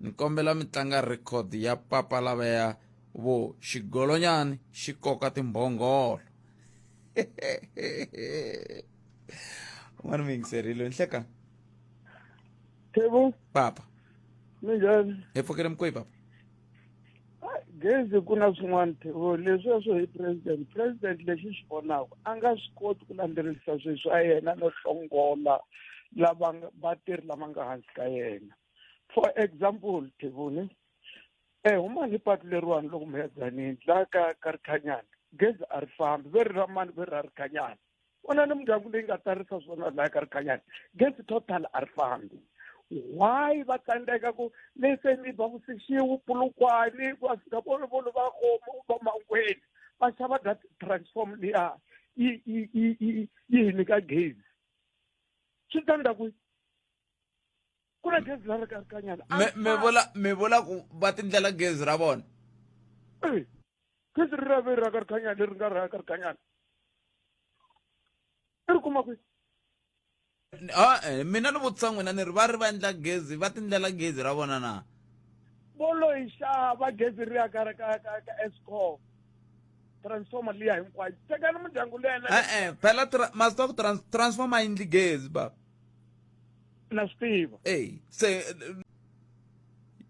ni kombela mi tlanga record ya papa lavaya vo xigolonyani xi koka timbhongolo un'wana mi yingiserile ni hleka Thebo papa minjhani hi pfukile mikoyi papa gezi ku na swin'wana thevo leswiya swo hi president president lexi xi vonaka a nga swi koti ku landzelerisa swilo swa yena no hlongola lava vatirhi lama nga hansi ka yena for example thevoni e eh, huma ni patu leriwani loko mi ya dzanini laha ka ka rikhanyana gezi a ri fambi ve ri ra mani ve ri ra rikhanyana vona ni mindyangu leyi nga tsarisa swona laha ka rikhanyani gezi total a ri fambi why va tsandzeka ku leseni va vusixiwu pulukwani va fika volovolo va khoma va mangweni va xava that transform liya yi yi yi yi yi hi nyika gezi swi ta ndza ku ku na gezi leri ka kanyana a Me- ri me fani. vula me vula ku va tindlela gezi ra vona Eh, gezi ri rave ra ka ri kanyana leri nga ra ka ri kanyana i ri kuma kwi N- ah, eh, mina ni vutisa n'wina ni ri va ri va endla gezi va tindlela gezi ra vona na bolo yi xava gezi ri ya ka ka ka ka escom transformer liya hinkwayo tekani mindyangu leyi na e-e phela tra- masita ku trans- transformer yindli gezi baba na swi tiva eyi se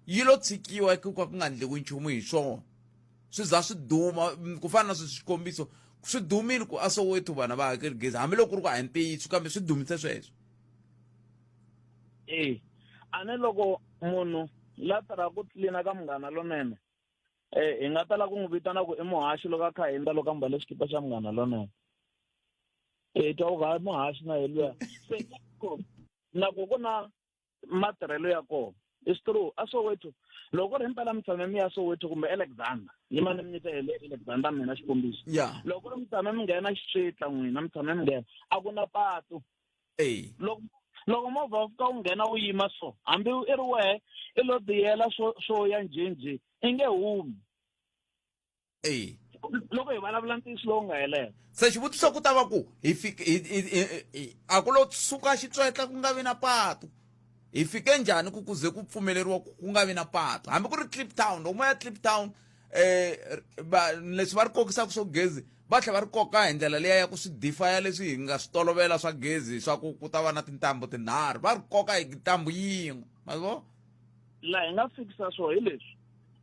yi lo tshikiwa ku ka ku nga ndliwi nchumu hi swona swi za swi duma ku fana na sweswi xikombiso swi dumile ku a soweto vana va hakeli gezi hambiloko ku ri ku a hi ntiyiso kambe swi dumise sweswo e a ni loko munhu la tirha ku tlilina ka munghana lonene um hi nga tala ku n'wi vitana ku i muhaxi loko a kha hindza loko a mbale xikipa xa munghana lonene e twa ga muhashi na yeluya se nako ku na matirhelo ya kona is true a soweto loko ri mpela mitshame mi ya soweto kumbe alexander yi mane mi nyita hele alexander mina xikombiso loko ri mitshame mi nghena xitla n'wina mi tshame mi nghena a ku na patu loko loko movha wu fika wu nghena wu yima so hambi i ri wehe i lo tiyela swo swo ya njhenjhe i nge humi eyi loko hi vulavula ntiyiso lowu nga helela se xivutiso ku ta va ku hi fike hi- hi- hi- hi- a ku lo suka xitswetla ku nga vi na patu hi fike njhani ku kuze ku pfumeleriwa ku ku nga vi na patu hambi ku ri clip town loko mo ya clip town um va leswi va ri kokisaka swo gezi va tlhela va ri koka hi ndlela leya ya ku swi difaya leswi hi nga swi tolovela swa gezi swa ku ku ta va na tintambu tinharhu va ri koka hi ntambu yin'we ma vo laha hi nga fikisa swona hi leswi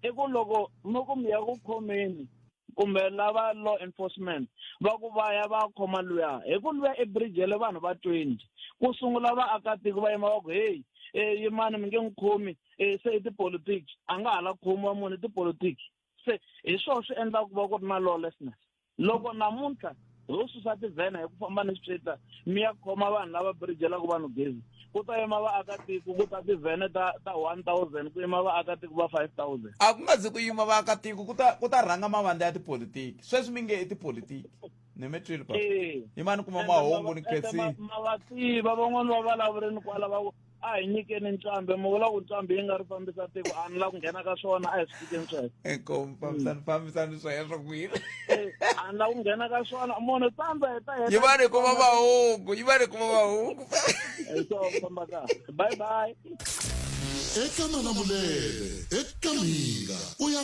i ku loko mi ku mi ya ku khomeni kumbe lava law enforcement va ku va ya va khoma luya hi ku luya ebrijele vanhu va twenty ku sungula vaakatiko va yima va ku heyi um eh, yimani mi nge n'wi khomi um se i tipolitiki a nga ha la khomiwa munhu i tipolitiki se hi swona swi endlaka ku va ku ri na lawlessness loko namuntlha ho susa tivhena hi ku famba ni swipyeta mi ya khoma vanhu lava birijelaka vanhu gezi ku ta yima vaakatiko ku ta tivhene ta ta one thousand ku yima vaakatiko va five thousand a ku nga zi ku yima vaakatiko ku ta ku ta rhanga mavandla ya tipolitiki sweswi mi nge i tipolitiki ni mi twile papa yimani kuma mahungu ni khensini ma va tiva van'wani va vulavurini kwala va a hi nyikeni nqambi mi vula ku nqambi yi nga ri fambisa tiko a ni la ku nghena ka swona a hi swi tikeni sweswo inkomu fambisani fambisani sweswo kwini a ni la ku nghena ka swona munhu tsandza heta heta yi va ni kuma mahungu yi va ni kuma mahungu so famba ka bye bye eka manamulele eka minga u ya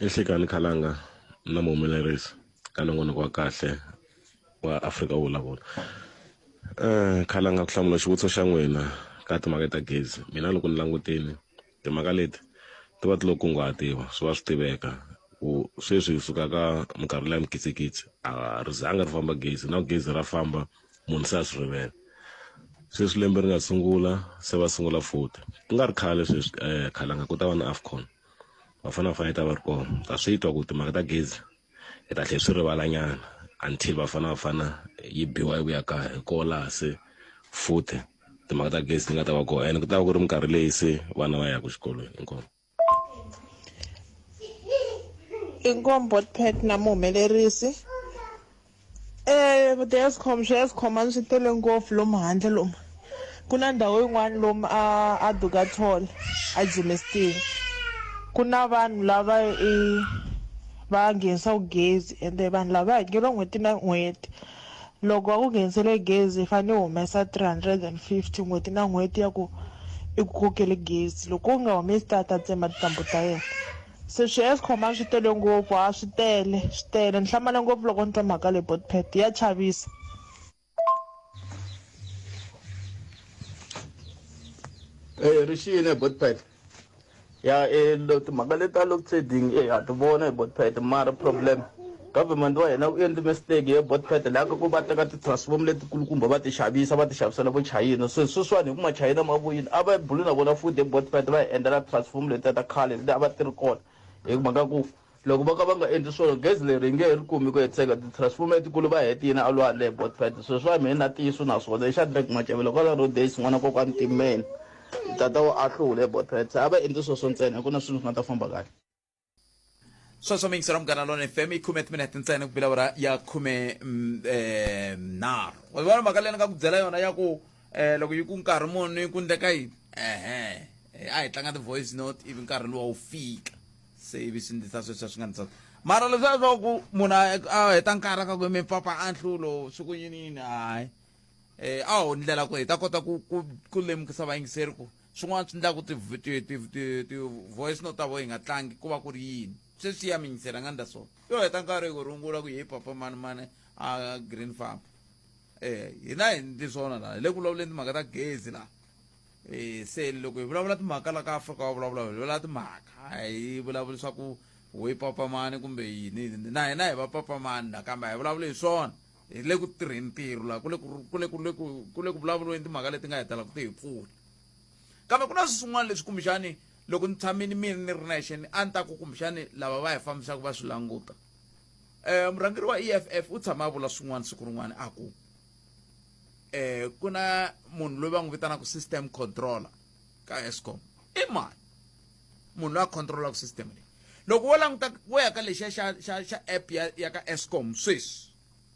ehlekani khalanga na muhumelerisi ka nongonoko wa kahle wa afrika wo vulavula um khalanga ku hlamula xivutiso xa n'wina ka timhaka ta gezi mina loko ni langutini timhaka leti ti va ti lo kunguhatiwa swi va swi tiveka ku sweswi hi suka ka minkarhi leya mikitsikitsi a ri zanga ri famba gezi na gezi ra famba munhu se a swi rivele sweswi lembe ri nga sungula se va sungula futhi ku nga ri khale sweswi um khalanga ku ta va na afcon va fanele va fanele ta va ri kona ta swi twa ku timhaka ta gezi hi ta tlhe swi rivalanyana until va fanele va fana yi biwa yi vuya kaya hi koho laha se futhi timhaka ta gezi ti nga ta va kona and ku ta va ku ri minkarhi leyi se vana va yaka xikolweni inkomo inkombot pet na muhumelerisi Eh, the Eskom swi Eskom a swi tele ngopfu lomu handle lomu ku na ndhawu yin'wana lomu a a Dugatall a Germiston ku na vanhu lava i va nghenisaka gezi ende vanhu lava hakeriwa n'hweti na n'hweti loko va ku nghenisele gezi i fanele u humesa three hundred and fifty n'hweti na n'hweti ya ku i ku kokele gezi loko u nga humesi ta ta tsema tintambu ta yena. Se swi Eskom a swi tele ngopfu a swi tele swi tele ni hlamale ngopfu loko ni twa mhaka leyi Botpet ya chavisa. Eh ri xiyile Botpet ya eh timhaka leti ta load shedding eh ha ti vona hi Botpet mara problem. Government wa hina wu endli mistake ye bought pattern la ka ku va teka ti transform leti kulukumba va ti xavisa va ti xavisela vo chayina se sweswiwani hi ku ma chayina ma vuyini a va buli na vona futhi hi bought pattern va hi endlela transform letiya ta khale leti a va ti ri kona hi mhaka ku loko va ka va nga endli swona gezi leri hi nge hi ri kumi ku hetiseka ti transform letikulu va heti yini a lwandle hi bought pattern sweswiwani mehe na tiyiso na swona hi Shadrack Macavelo kwala road days n'wana kokwani Timmeni tata wa Ahlula hi bought pattern se a va endli sweswo ntsena hi ku na swilo swi nga ta famba kahle sweswo mi yingisela munghana lona fm yi khume timinete ntsena ku bilavura ya khume mm, eh, nharhu wa vona mhaka leyi ni nga ku byela yona ya ku eh, loko yi ku nkarhi muni ku ndleka yini ehe eh, a hi tlanga ti-voice note ivi nkarhi luwa wu fika se ivi swi ndlisa sweswiya swi nga ndlisa mara leswiya swa ku munhu a- a heta nkarhi ka ku mi pfapfa a nhlulo swi ku yini yini hayi um a ho ndlela ku hi ta kota ku ku- ku lemukisa vayingiseri ku swin'wana swi endlaku ti-voice no ta vo yi nga tlangi ku va ku ri yini se swi ya minyisela nga ndla so yo heta nkarhi hi ku rungula ku hi papa mani mani a green farm um hina hi ndli swona laha hi le ku vulavuleni timhaka ta gezi laha um se loko hi vulavula timhaka la ka afrika wa vulavula hi vulavula timhaka a hi vulavuli swa ku ho yi papamani kumbe yini na hina hi va papamani la kambe a hi vulavuli hi swona hi le ku tirheni ntirho laha ku le ku le ku le ku ku le ku vulavuriweni timhaka leti nga hetela ku ti hi pfuna kambe ku na swin'wana leswi kumbexani loko ni tshamini mina ni ri nexe ni a ni ta ku kumbexani lava va hi fambisaka va swi languta um murhangeri wa e f f u tshama a vula swin'wana siku rin'wana a ku um ku na munhu loyi va n'wi vitanaka system controller ka escom i mani munhu loyi a controlaka system leyi loko wo languta wo ya ka lexiya xa xa xa app ya ya ka escom sweswi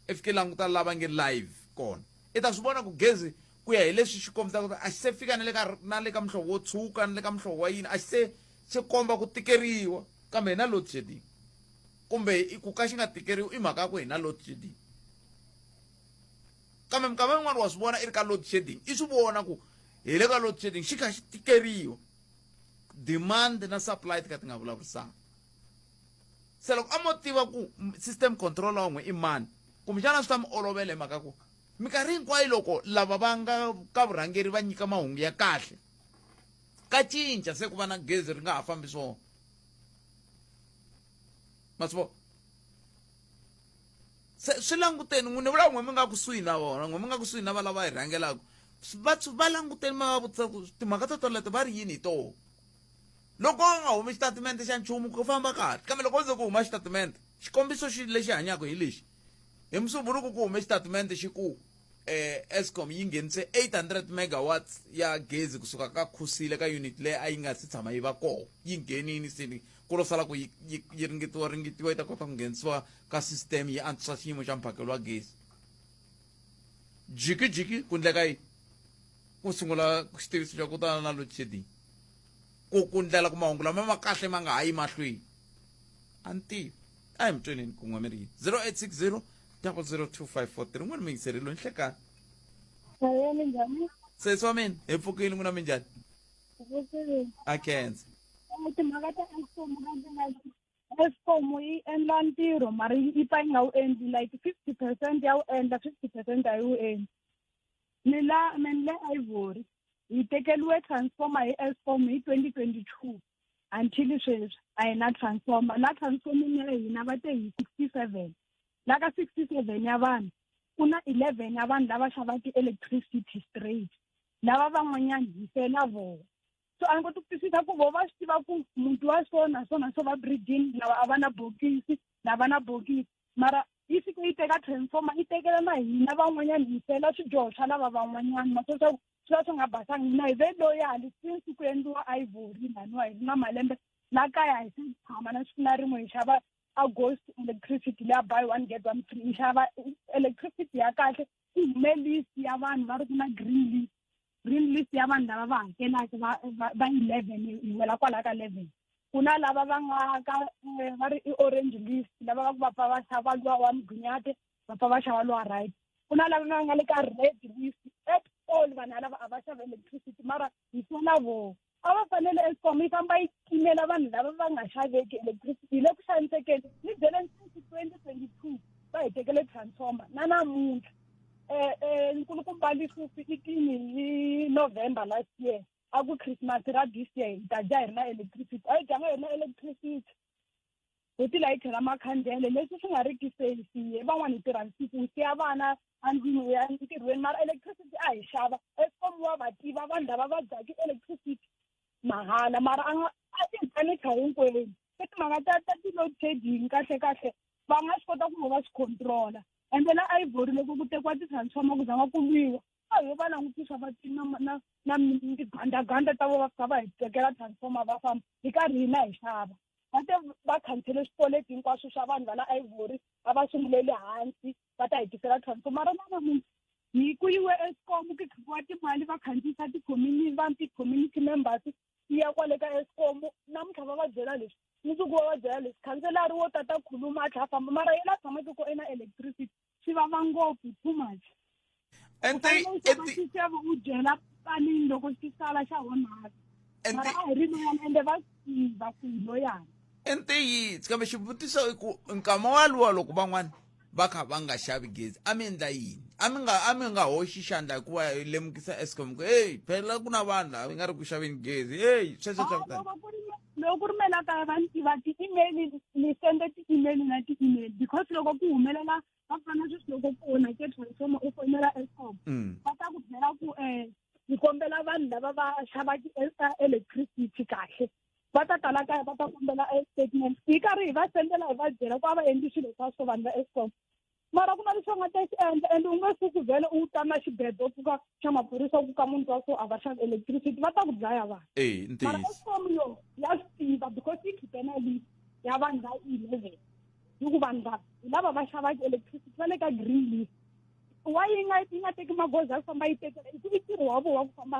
i fike languta lava nge live kona i ta swi vona ku gezi ku ya hi leswi xi kombisaka a xi se fika na le ka na le ka muhlovo wo tshuka na le ka muhlovo wa yini a xi se xi komba ku tikeriwa kambe hi na load shedding kumbe ku ka xi nga tikeriwi i mhaka ya ku hi na load shedding kambe minkama yin'wana wa swi vona i ri ka load shedding i swi vona ku hi le ka load shedding xi kha xi tikeriwa demand na supply ti ka ti nga vulavurisana se loko a mo tiva ku system controller wan'we i mani kumbexana swi ta mi olovela hi mhaka ku minkarhi hinkwayo loko lava va nga ka vurhangeri va nyika mahungu ya kahle ka cinca se ku va na gezi ri nga ha fambi swona ma swi vona se swi languteni n'wini vulava n'we mi nga kusuhi na vona n'we mi nga kusuhi na valava hi rhangelaka va va languteni mi va vutisa ku timhaka to toleto va ri yini hi toho loko u nga humi xitatimende xa nchumu ku famba kahle kambe loko u ze ku huma xitatimende xikombiso xi lexi hanyaka hi lexi hi musumbunuku ku hume xitatimende xi ku eh Eskom yi nghenise 800 megawatts ya gezi kusuka ka Khusile ka unit leyi a yi nga si tshama yi va kona yi nghenini sini ku lo sala ku yi ringetiwa ringetiwa yi ta kota ku nghenisiwa ka system yi antswisa xiyimo xa mphakelo wa gezi jikijiki ku ndleka yi ku sungula xitiviso xa ku tana na load shedding ku ku ndlela ku mahungu lama ma kahle ma nga ha yi mahlweni a ni tivi a hi mi tweneni ku nwa mirhi yi 0860 002543 n'wana miyingiseri lo nhlekani Hello, minjhani? sesi wa mina hi pfukile n'wina minjhani Vutini. a khensa Timhaka ta Eskom ka ti nga Eskom yi endla ntirho mara yi yi pfa yi nga wu endli like fifty percent ya wu endla fifty percent a yi wu endli. Ni la mina le Ivory hi tekeliwe transformer hi Eskom hi twenty twenty two until sweswi a hi na transformer la transforming ya hina va te hi sixty seven la ka sixty seven ya vanhu ku na eleven ya vanhu lava xava ti-electricity straight lava van'wanyani hi fela vona so a ni koti ku twisisa ku vo va swi tiva ku muti wa so na so na so va breeding lava a va na bokisi lava na bokisi mara yi fike yi teka transformer yi tekela na hina van'wanyani hi fela swidyoho swa lava van'wanyani ma swa swaku swi va swi nga basanga mina hi ve loyali since ku endliwa ivory laniwa hi ri na malembe la kaya hi se tshama na siku na rin'we hi xava august electricity leya buy one get one free hi xava electricity ya kahle ku hume list ya vanhu va ri ku na green list green list ya vanhu lava va hakelaka va va eleven hi wela kwala ka eleven ku na lava va nga ka eh, va ri i-orange list lava va ku va pfa va xava luwa wa migunyate va pfa va xava lowa right ku na lava va nga le ka red list at all vanhu alava a va xava electricity mara hi sola voho a va fanele escom yi famba yi timela vanhu lava va nga xaveki electricity hi le ku xanisekeni ni byele nsinsi twenty twenty two va hi tekele transformer na namuntlha um nkulukumba lisufi i tini hi november last year a ku christmas ra this year hi ta dya hi ri na electricity a yi dyanga hi ri na electricity hi ti layithi ra makhandlele leswi swi nga ri ki safety van'wani hi tirha nsiku hi siya vana andlwini ya ntirhweni mara electricity a hi xava escom wa va tiva vanhu lava va dyaka electricity mahala mara a nga a ti hi panicha hinkwenu se timhaka ta ta ti-load shedding kahle kahle va nga swi kota ku va va swi controla ende la ivory loko ku tekiwa ti-transformer ku zanga ku lwiwa a ho va langutisa va ti na na na migandaganda ta vo va fika va hi tekela transformer va famba hi karhi hina hi xava va te va khansele swikweleti hinkwaswo swa vanhu va la ivory va va sungulele hansi va ta hi tisela transformer ra nanamuntlha hi ku yiwe escom ku khipiwa timali va khandziyisa ti-community vanhu ti-community members yi ya kwale ka escom namuntlha va va byela leswi mundzuku va va byela leswi khanselari wo tata khuluma a tlha a famba mara yena a tshamake ko ena electricity swi vava ngopfu too much and they xiseve u dyela panini loko xi sala xa onhaka mara a hi ri loyana ende va tiva ku hi loyana entiyitsi kambe xivutiso i ku nkama waluwa loko van'wana va kha va nga xavi gezi a mi endla yini a mi nga a mi nga hoxi xandla hikuva hi lemukisa escom ku heyi phela ku na vanhu lava nga ri ku xaveni gezi heyi sweswo swa kutani loko ku ri mina la kaya va ni tiva ti-email ni sende ti-email na ti-email because loko ku humelela va fana sweswi loko ku onhake transformer u fonela escom mm. va ta ku byela ku um ni kombela vanhu lava va xava ti-electricity kahle va ta tala kaya va ta kombela statement hi karhi hi va sendela hi va byela ku a va endli swilo swa swo vanhu va escom mara ku na leswi va nga ta swi endla and u nge suku vhele u tama xibedho u pfuka xa maphorisa u ku ka munhu wa so a va xavi electricity va ta ku dlaya vanhu eyi mara ntiyiso escom yo ya swi tiva because yi khipe na list ya vanhu va eleven yi ku vanhu va hi lava va xavaka electricity va le ka green list wa yi nga yi nga teki magoza ya ku famba yi tekela hi ku i ntirho wa vona wa ku famba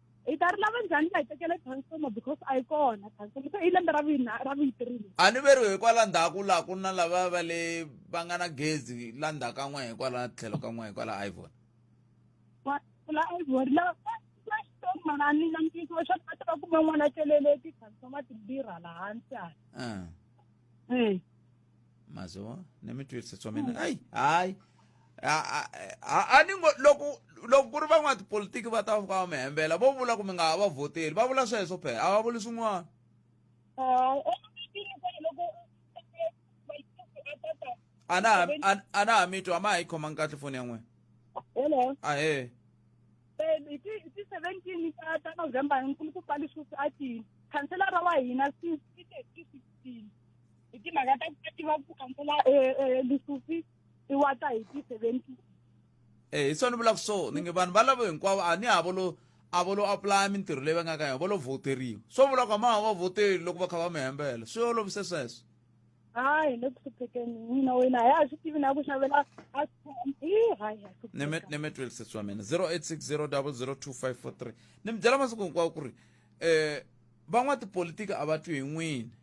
hi ta ri lava njhani va hi tekele transforma because a yi kona transforma se i lembe ra vina ra vuyitirile a ni veriwe hikwala ndzhaku laha ku na lava va le va nga na gezi la ndzhaku ka n'we hikwala tlhelo ka n'we hikwala ivon la ivon lava va xitong manani na mpiso wa xana va ta va kume n'wana tlelele ti-transforma timbirhi hala hansi hala ah. eh. mazoho ni mi twise swa mina hayi hayi a ni ngo loko loko ku ri van'watipolitiki va ta va mi hembela vo vula ku mi nga ha va vhoteli va vula sweswo phela a va vuli swin'wana a na a na ha mi twa a ma ha yi khomangi kahle foni ya n'wina hello ahe hi ti hi ti seventeen ta ta november nkulukupa lexi a ti khanselara wa hina since ti te ti sixteen hi timhaka ta ku va tiva ku kambela e, e, lisufi i wa ta hi ti-seventy e hi swona ni vulaka so ni nge vanhu va lavo hinkwavo a ni havo lo a vo lo aplaya mintirho leyi va nga ka yona vo lo vhoteriwa swo vula ku a ma ha va vhoteli loko va kha va mi hembela swi olovise sweswo hayi le ku hluphekeni mina wena hi a swi tivi na ku xavela a neme twelve sesi wa mina zero eight six zero double zero two five four three ni mi byela masiku hinkwawo ku ri um van'watipolitiki a va twi hi n'wini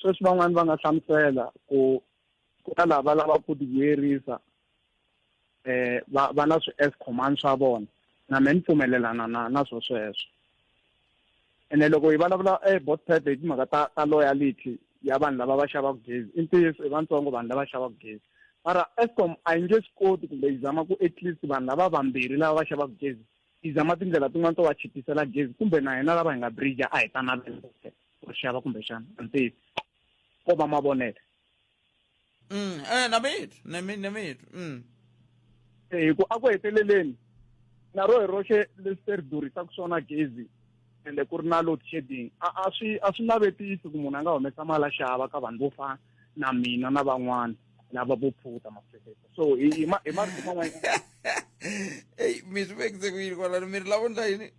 Sweswi van'wana va nga hlamusela ku ku na lava lavaka ku tivuyerisa eh va va na swi as command swa vona na me ni pfumelelana na na swo sweswo ene loko hi vulavula eh both type hi timhaka ta ta loyalty ya vanhu lava va xavaka gezi i ntiyiso i vantsongo vanhu lava xavaka gezi mara escom a yi nge swi koti kumbe yi zama ku at least vanhu lava vambirhi lava va xavaka gezi yi zama tindlela tin'wana to va chipisela gezi kumbe na hina lava hi nga bridge a hi ta navela ku ri xava kumbexana a ndzi tivi ko va mavonelo mm eh na mina na mina na mina mm eh, hi ku a ku heteleleni na ro hi roxe leswi ri durisaka swona gezi ende ku ri na load shedding a a swi a swi navetisi ku munhu a nga humesa mali a xava ka vanhu vo fana na mina na van'wana lava vo phuta mafekete so hi hi ma- hi marito man'wana eyi mi swi vekise ku yini kwalano mi ri lavo ndla yini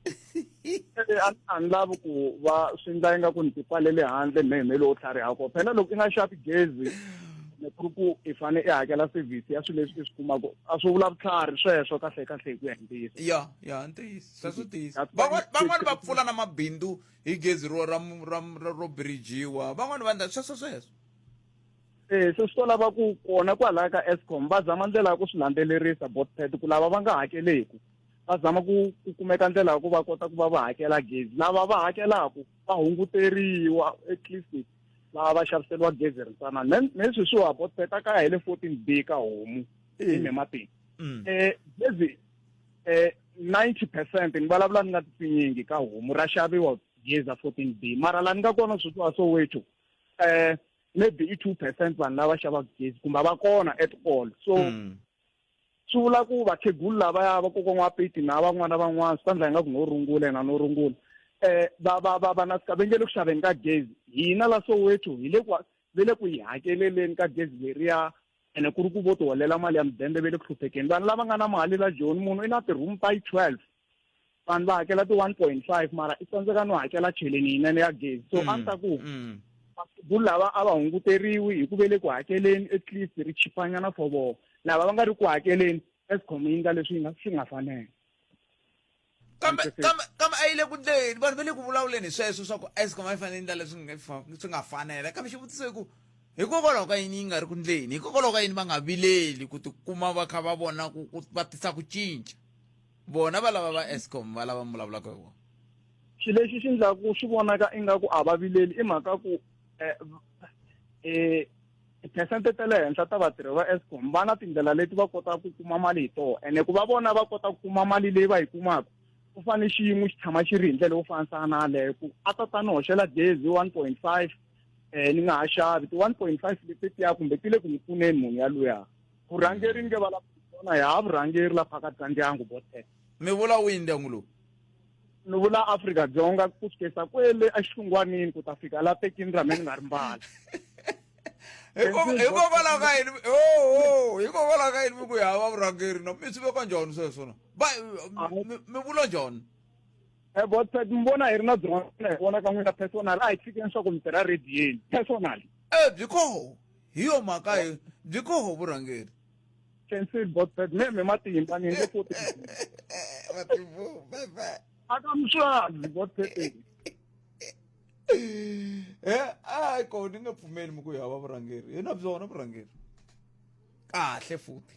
Eh, a a ni lavi ku va swi ndla inga ku ni tipfalele handle me me lowo tlhariha ko phela loko i nga xavi gezi ni ku ri ku i fane i hakela service ya swilo leswi i swi kumaka a swi vula vutlhari sweswo kahle kahle hi ku ya hi ntiyiso ya ya ntiyiso sweswo ntiyiso That's why- Van'wana- van'wana va pfula na mabindzu hi gezi ro ra ra ra- ro birijiwa van'wana va ndla sweswo sweswo e se swi to lava ku kona kwalaya ka escom va zama ndlela ya ku swi landzelerisa botped ku lava va nga hakeleku va zama ku ku kumeka ndlela ya ku va kota ku va va hakela gezi lava va hakelaku va hunguteriwa at least lava va xaviseriwa gezi ri ntsanana ne sweswiwa botped a ka ya hi le fourteen b ka homu ni mimatini um gezi um ninety percent ni vulavula ni nga titsinyingi ka homu ra xaviwa gezi a fourteen b mara laha ni nga kona sweswiwa soweto um maybe i two percent vanhu lava xavaka gezi kumbe va kona at all so mm. swi vula ku vakhegulu lavaya vakokwana wa peti na van'wana van'wana swi ta ndla ingaku no rungula yena no rungula um va va va va na sika ve nge le ku xaveni ka gezi hina la soweto hi le ku ve le ku yi hakeleleni ka gezi leriya ene ku ri ku vo tiholela mali ya mudende ve le ku hluphekeni vanhu lava nga na mali la joni munhu i na ti-room ta yi twelve vanhu va hakela ti one point five mara i tsandzeka no hakela cheleni yinene ya gezi so a ni ta ku vakhegulu lava a va hunguteriwi hi ku ve le ku hakeleni at least ri chipanyana for vona lava va nga ri ku hakeleni escom yi nga leswi yi nga swi nga fanela kambe kambe kambe a yi le ku ndleni vanhu va le ku vulavuleni hi sweswo swa ku escom a yi fanele ndlela leswi nga swi nga fanela kambe xivutiso i ku hikokwalaho ka yini yi nga ri ku ndleni hikokwalaho ka yini va nga vileli ku tikuma va kha va vona ku va tisa ku cinca vona va lava va escom va lava mi vulavulaka hi vona xi lexi xi ndla ku swi vonaka ingaku a va vileli i mhaka ku um tiphesente ta le henhla ta vatirhi va escom va na tindlela leti va kotaka ku kuma mali hi tona ene ku va vona va kota ku kuma mali leyi va yi kumaka ku fane xiyimo xi tshama xi ri hi ndlela yo fanisana na yaleyo ku a ta ta ni hoxela gezi one point five um ni nga ha xavi ti-one point five leti tiya kumbe ti le ku ni pfuneni munhu yaluya vurhangeri nge va lavona hi ha vurhangeri la phakathi ka ndyangu vo ten mi vula wihi ndyangu lowu ni vula afrika dzonga ku sukesa kwele exitungwanini ku ta fika la tekini ra me ni nga ri mbala hikokwalaho ka yini oho hikokwalaho ka yini mi ku hi hava vurhangeri no mi swi veka njhani sweswo no va mi vula njhani Eh, but eh, mi vona hi ri na byin'wana hi vona ka n'wina personal a hi fikeni swa ku mi tirha radiyeni personal e byi koho hi yo mhaka hi byi koho vurhangeri cancel bot bad me me matimba ni nge koti matimbo bye bye akamswazi bot bad eh ay ko ni nga pfumeli mi ku hava vurhangeri hi na byona vurhangeri kahle futhi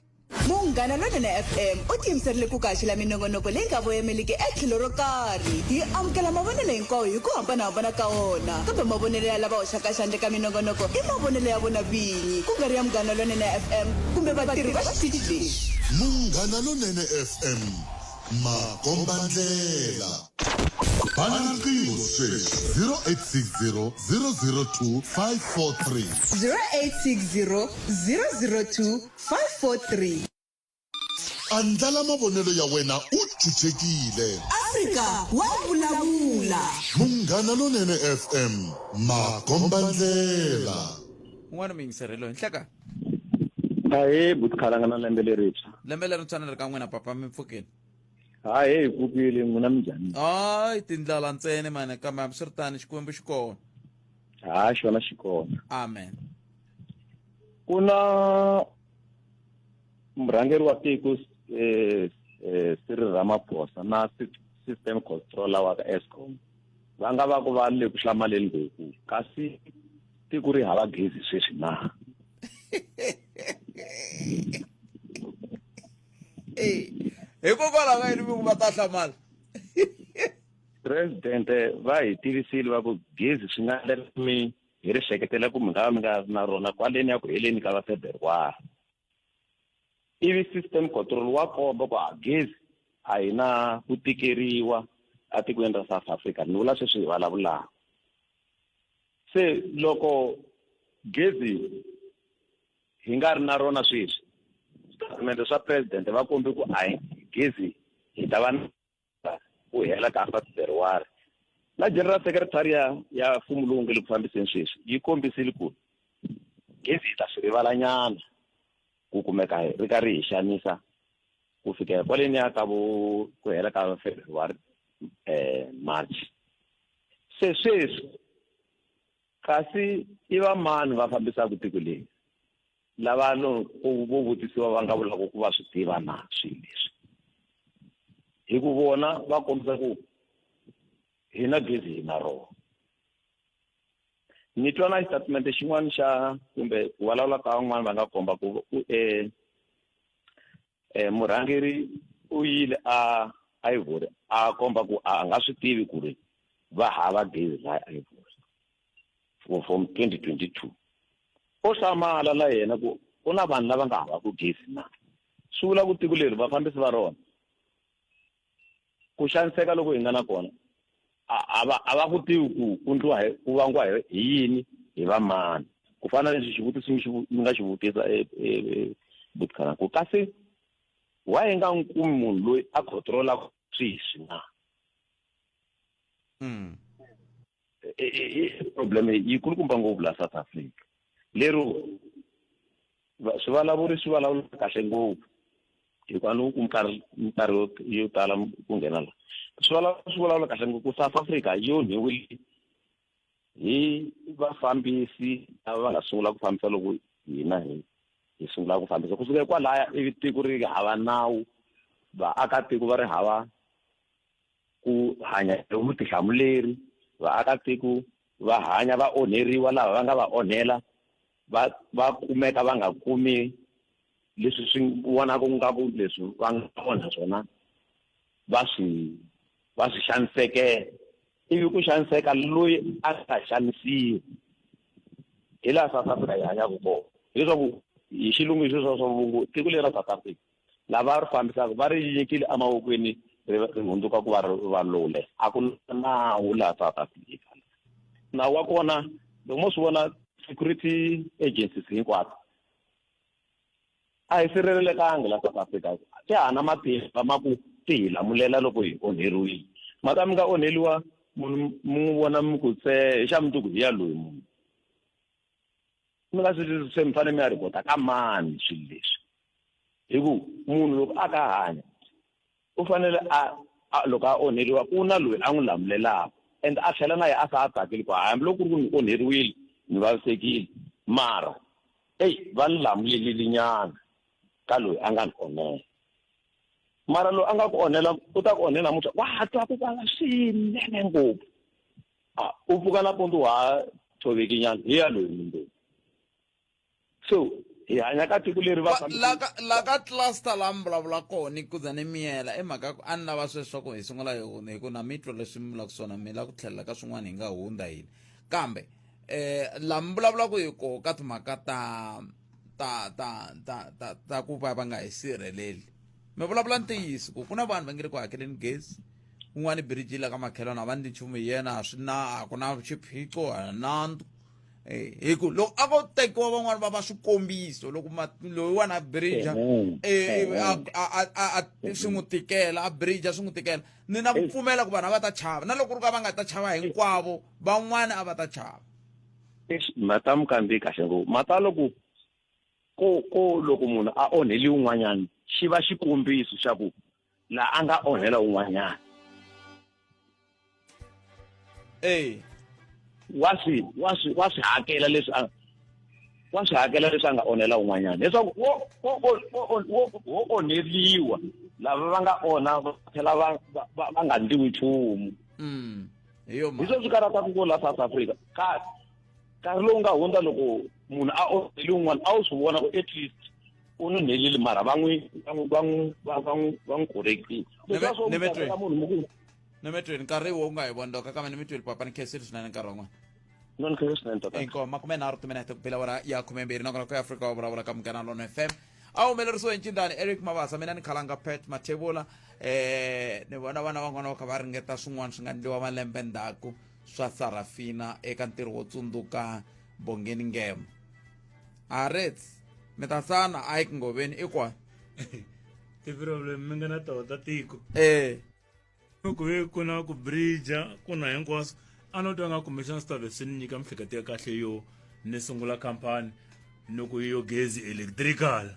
munghana lonene fm u tiyimiserile ku kaxela minongonoko leyi nga voyameliki etlhelo ro karhi hi amukela mavonelo hinkwawo hi ku hambanahambana ka wona kambe mavonelo ya lava hoxaka xandle ka minongonoko i mavonelo ya vona vinyi ku nga ri ya munghana lonene fm kumbe vatirhi va xitichi lexi munghana lonene fm makombandlela bana riqingho sweswi 0860 002 543 0860 002 543. Andlala mavonelo ya wena u chuchekile. Afrika wa vulavula. Munghana Lonene FM, makombandlela. Un'wana muyingiseri loyi nhleka. Ahee buti khalanga na lembe lerintshwa. Lembe lerintshwa ni ri ka n'wina papa mi pfukile. Hayi hey kukile n'wina mi njhani? Hayi tindlala ntsena mani kambe hambiswiritano Xikwembu xi kona. Hayi xona xi kona. Amen. ku na murhangeri wa tiko eh, eh, Cyril Ramaphosa na system controller wa ka Eskom va nga va ku va le ku hlamaleni ngopfu kasi tiko ri hava gezi sweswi na hikokwalaho ka yini vingu va ta hlamala presidente va hi tivisile va ku gezi swi nga ndlela mi Hi ri hleketela ku mi nga va mi nga ri na rona kwaleni ya ku heleni ka vafebruwari ivi system control wa komba ku ha gezi a hi na ku tikeriwa etikweni ra south africa ni vula sweswi hi vulavulaka se loko gezi hi nga ri na rona sweswi switatimende swa president va kombe ku a hi gezi hi ta va ku hela ka half February na general secretary ya ya mfumo lowu nge le ku fambiseni sweswi yi kombisile ku gezi yi ta swi rivalanyana ku kumeka ri karhi hi xanisa ku fikela kwaleni ya ka vo ku hela ka february um march se sweswi kasi i va mani va fambisaka tiko leyi Lava no vo vutisiwa va nga vulaka ku va swi tiva na swilo leswi hi ku vona va kombisa ku hi na gezi hi na rona ni twa na xitatimende xin'wana xa kumbe ku vulavula ka van'wana va nga komba ku ku um eh, murhangeri u yile a ivory a komba ku a nga swi tivi ku ri va hava gezi la ivory for from 2022 o hlamala la yena ku ku na vanhu lava nga havaku gezi na swi vula ku tiko leri vafambisi va rona Ku xaniseka loku hi nga na kona a va a va ku tivi ku ku ndliwa hi ku vangiwa hi hi yini hi va mani ku fana na leswi xivutiso mi xi vu- mi nga xi vutisa e- e- e- butikana ku kasi why hi nga n'wi kumi munhu loyi a controlaka sweswi na Mm. i problem yi kulukumba ngopfu la south africa lero swi vulavuri swi vulavula kahle ngopfu hikuva ni ku nkarhi nkarhi yo tala ku nghena la swi vulavula swi vulavula kahle ngopfu south africa yo nyiwile hi vafambisi lava va nga sungula ku fambisa loko hina hi hi sungula ku fambisa kusuka kwalaya ivi tiko ri hava nawu vaakatiko va ri hava ku hanya hi vutihlamuleri vaakatiko va hanya va onheriwa lava va nga va onhela va va kumeka va nga kumi leswi swi vonaka ku nga ku leswi va nga onha swona va swi va swi xanisekela ivi ku xaniseka loyi a nga xanisiwi hi laha south africa hi hanyaka kona hileswaku hi xilungu hi sweswo swa vulungu tiko leri ra south africa lava ri fambisaka va ri nyikile emavokweni ri ri hundzuka ku va ri valule a ku na nawu laha south africa nawu wa kona loko mo swi vona security agencies hinkwato a hi sirhelelekangi la south africa ti hana matimba ma ku ti hi lamulela loko hi onheriwile mhaka mi nga onheliwa munhu mi n'wi vona mi ku se hi xa mundzuku hi ya loyi munhu mi nga swi twisisi se mi fanele mi ya rhipota ka mani swilo leswi hi ku munhu loko a ka hanya u fanele a loko a onheriwa ku na loyi a n'wi lamulelaka and a tlhela na ye a sa a tsakeli ku hambiloko ku ri ku ni onheriwile ni vavisekile mara eyi va ni lamulelile nyana ka loyi a nga ni onhela mara loyi a nga ku onhela u ta ku onhela namuntlha wa twa ku vava swinene ngopfu a u pfuka nampundzu wa ha tshoveki nyana hi ya loyi mundeni so hi hanya ka tiko leri va laka laka cluster la mi vulavula kona ni kuza ni miyela i mhaka ku a ni lava sweswo ku hi sungula hi hunda hi ku na mitwa leswi mi vulaka swona mi lava ku tlhelela ka swin'wana hi nga hunda hina kambe um la mi vulavulaka hi koho ka timhaka ta ta ta ta ta ta ku va va nga hi sirheleli mi vulavula ntiyiso ku ku na vanhu va nge le ku hakeleni gezi un'wana i biriji la ka makhelwana a va ndli nchumu hi yena a swi na a ku na xiphiqo a nandu eh, hi ku loko a ko tekiwa van'wani va va swikombiso loko loyiwana a birija eh, eh, swi n'wi tikela a birija swi n'wi tikela ni na ku pfumela ku vanhu a va ta chava na loko ku ri ka va nga ta chava hinkwavo van'wana a va ta chava Eish, matamu kandziyi kahle ngopfu matalo ku ko ko loko munhu a onheli un'wanyana xi va xikombiso xa ku la a nga onhela un'wanyana ee wa swi wa swi wa swi hakela leswi a wa swi hakela leswi a nga onhela un'wanyana leswaku wo wo wo wo onheriwa lava va nga onha va tlhela va va va nga ndliwi nchumu mm. hi yo mhaka sweswi karata ku ko la south africa kasi nkarhi lowu nga hundza loko munhu a onheli un'wana a wu swi vona ku at least u n'wi nhelile mara va n'wi va n'wi va n'wi va va n'wi va n'wi correctile leswiya swo Neve- Nevetwe. munhu muku nemetweni nkarhi wo u nga hi vondoka kambe nemetweni papa ni khensile swinene nkarhi wan'wana inko makume nharhu timinete kuphila wona ya khume mbirhi nakona ku afrika wa vulavula ka munghana lona fm a humelerisiwe hi ncindani eric mavasa mina ni khalanga pet mathevula eh ni vona vana van'wana va kha va ringeta swin'wana swi nga ndliwa malembe ndzhaku swa sarafina eka ntirho wo tsundzuka bongeni ngema arets mi ta sana a yi ku ngoveni i kwani ti-problem mi nga na tona ta tiko eh loko hi ku na ku bridger ku na hinkwaswo a no twa nga kumbexana swi ta ve swi ni nyika miehleketo ya kahle yo ni sungula khampani ni ku yo gezi electrical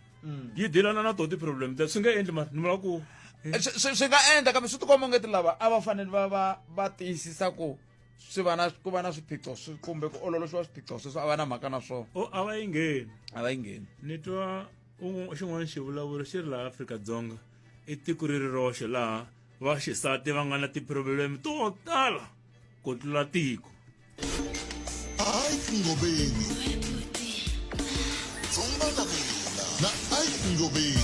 yi dilana na to ti-problem ta swi nga endli mani ni vula ku Eh, swi swi- swi nga endla kambe swi tikomba ungeti lava a va fanele va va va tiyisisa ku swi va na ku va na swiphiqo swi- kumbe ku ololoxiwa swiphiqo sweswo a va na mhaka na swona o a va yi ngheni a va yi ngheni ni twa un'we- xin'wana xivulavuri xi ri laha afrika-dzonga i tiko ri ri roxe laha vaxisati va nga na tipurobuleme to tala ku tlula tiko ngobeni dzumba na mina na ike ngobeni